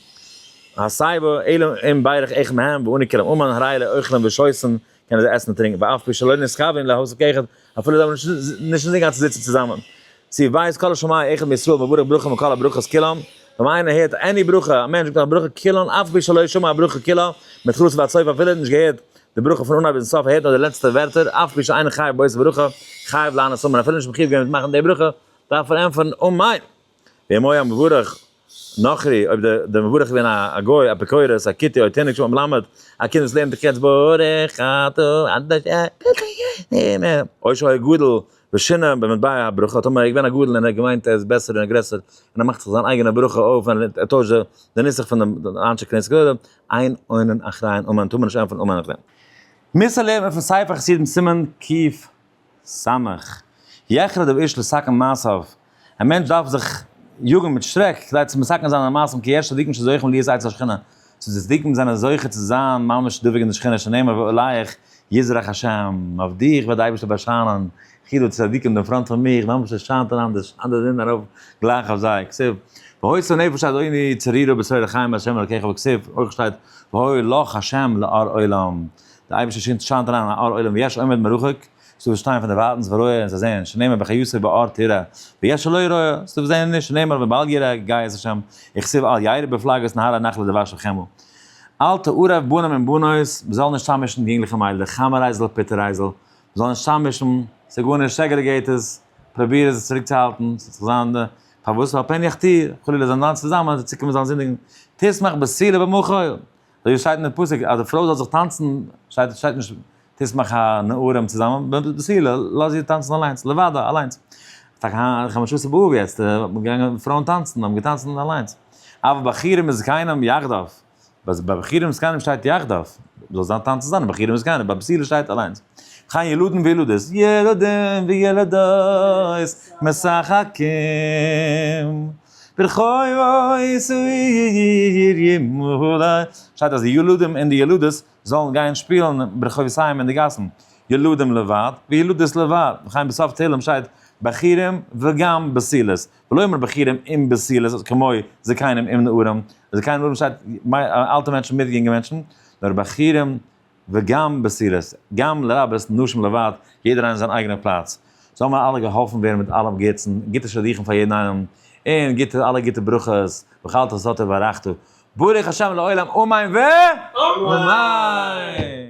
הסיבה, אלא אם בירך אחד מהם ואני כרם אומן הרי לאוכלים ושותין קענען זיי עסן און טרינקען ואף פי שלא נסחבין להוסיף כאחד, אפילו זיי האבן נישט נישט אינגאנצן זיצן צוזאמען. צו ווייזט כל השמיא אחד מישראל מברך ברכה מכל הברכות כולן, ווען איינער הערט עני ברכה, א מענטש זאגט נאך די ברכה כולן אף פי שלא שמע הברכה כולה מתחילתה ועד סופה אפילו ער האט נישט געהערט די ברכה פון אנהייב ביזן סוף ער הערט נאר די לעצטע ווערטער אף פי שאינו חייב באות הברכה חייב לענות אמן אפילו נישט מחויב געווען מיט מאכן די ברכה דארף ער ענטפערן אמן. בימי המבורך נוכרי, אויב דער מבורך איז געווען א גוי, אפיקורס, א כיתה, א תענוג שבעולם מלמד, א קינד וואס לערנט קץ ברוך אתה ה' אוי שהיה גדול ושינה במטבע הברכה, טאמער ער איז געווען א גדול און ער האט געמיינט ער איז בעסער און גרעסער און ער מאכט זיך זיין אייגענע ברכה אויף און ער טוישט די נוסח פון די אנשי כנסת גדולים, עיין ענן אחריין אמן טאמער נישט ענפערן אמן אחריין. מוסר לערנט מען פון ספר חסידים סימן קפ שמח. יחרד אב איש לסכן מעשיו, א מענטש דארף זיך יאגן מיט שרעק כדי צו מסכן זיין זיינע מעשים כי יש צדיקים שזוכים להיות עצי השכינה, צו די צדיקים זענען זוכה צו זיין ממש דבוק אין די שכינה שנאמר ואלייך יזרח השם, אויף דיך וועט די אייבערשטער באשיינען, וכי דו צדיקים דעם פראנט פון מיך, ממש עס שיינט און אנדערש, אנדערע זענען ארויף גלייך אויף זיי, כסב. והוי שונא נפש עד עוני צרירה בצרור החיים השם אלקיך וכסף, אויך שטייט והוי לך השם לאור עולם. דער אייבערשטער שינדט שיינט אריין אין א אור עולם ויש עומד מרחוק, ס'איז דא וואס שטייען פון דערווארטנס ורואה און זיי זעען שנאמר בחיותו באור תראה, ויש הלא יראה, ס'איז דא וואס זעען נישט שנאמר ווען באלד יראה גייע איז השם, וכסיל אל ירא בפלגות נהרא נחלא דבש וחמל. אל תערב בנים עם בנות, מ'זאל נישט צאממישן יונגלעך און מיידלעך, חאמערייזל פיטערייזל, מ'זאל נישט צאממישן, ס'איז גארנישט סעגרעגעיט עס, פראביר עס צוריקצוהאלטן, ס'וועט זיך זיין די, פארוואס ועל פן יכתיר, חלילה זיי זאלן זיין צוזאמען, זיי צוקומען זאלן זינדיגן, תשמח בסלע ובמחול, דאס שטייט אין די פסוק אז די פרוי זאל זיך טאנצן, שטייט שטייט נישט תשמח הנערים צוזאמען, נאר די סעודה לאז איר טאנצן אליינס, לבדה, אליינס. טאקע היינט חמשה עשר באב יעצט האט מען געגאנגען פרויען טאנצן, האבן געטאנצן אליינס. אויף בחורים וזקנים יחדיו, ביי בחורים וזקנים שטייט יחדיו, זאל זיין טאנצן צוזאמען בחורים וזקנים, ביי פסילה שטייט אליינס. וכן ילדים וילדות, ילדים וילדות משחקים. ברחובות העיר ימלא, שטייט אז די ילדים און די ילדות זאלן גיין שפילן ברחובות העיר אין די גאסן, ילדים לבד וילדות לבד, וכן בסוף תהלים שטייט בחורים וגם בסילות, ולא יאמר בחורים עם בסילות כמו זקנים עם נערים, זקנים נערים שטייט אלטע מענטשן מיט יונגע מענטשן, נאר בחורים וגם בסירות, גם לרבות נשים לבד, יעדער איינער זיין אייגענער פלאץ. זאלן מיר אלע געהאלפן ווערן מיט אלעם גוטס'ן, גוטע שידוכים פאר יעדן איינעם, און גוטע אלע גוטע ברכות, ואכלת ושתית וברכת, ברוך השם לעולם אמן ו. אמן!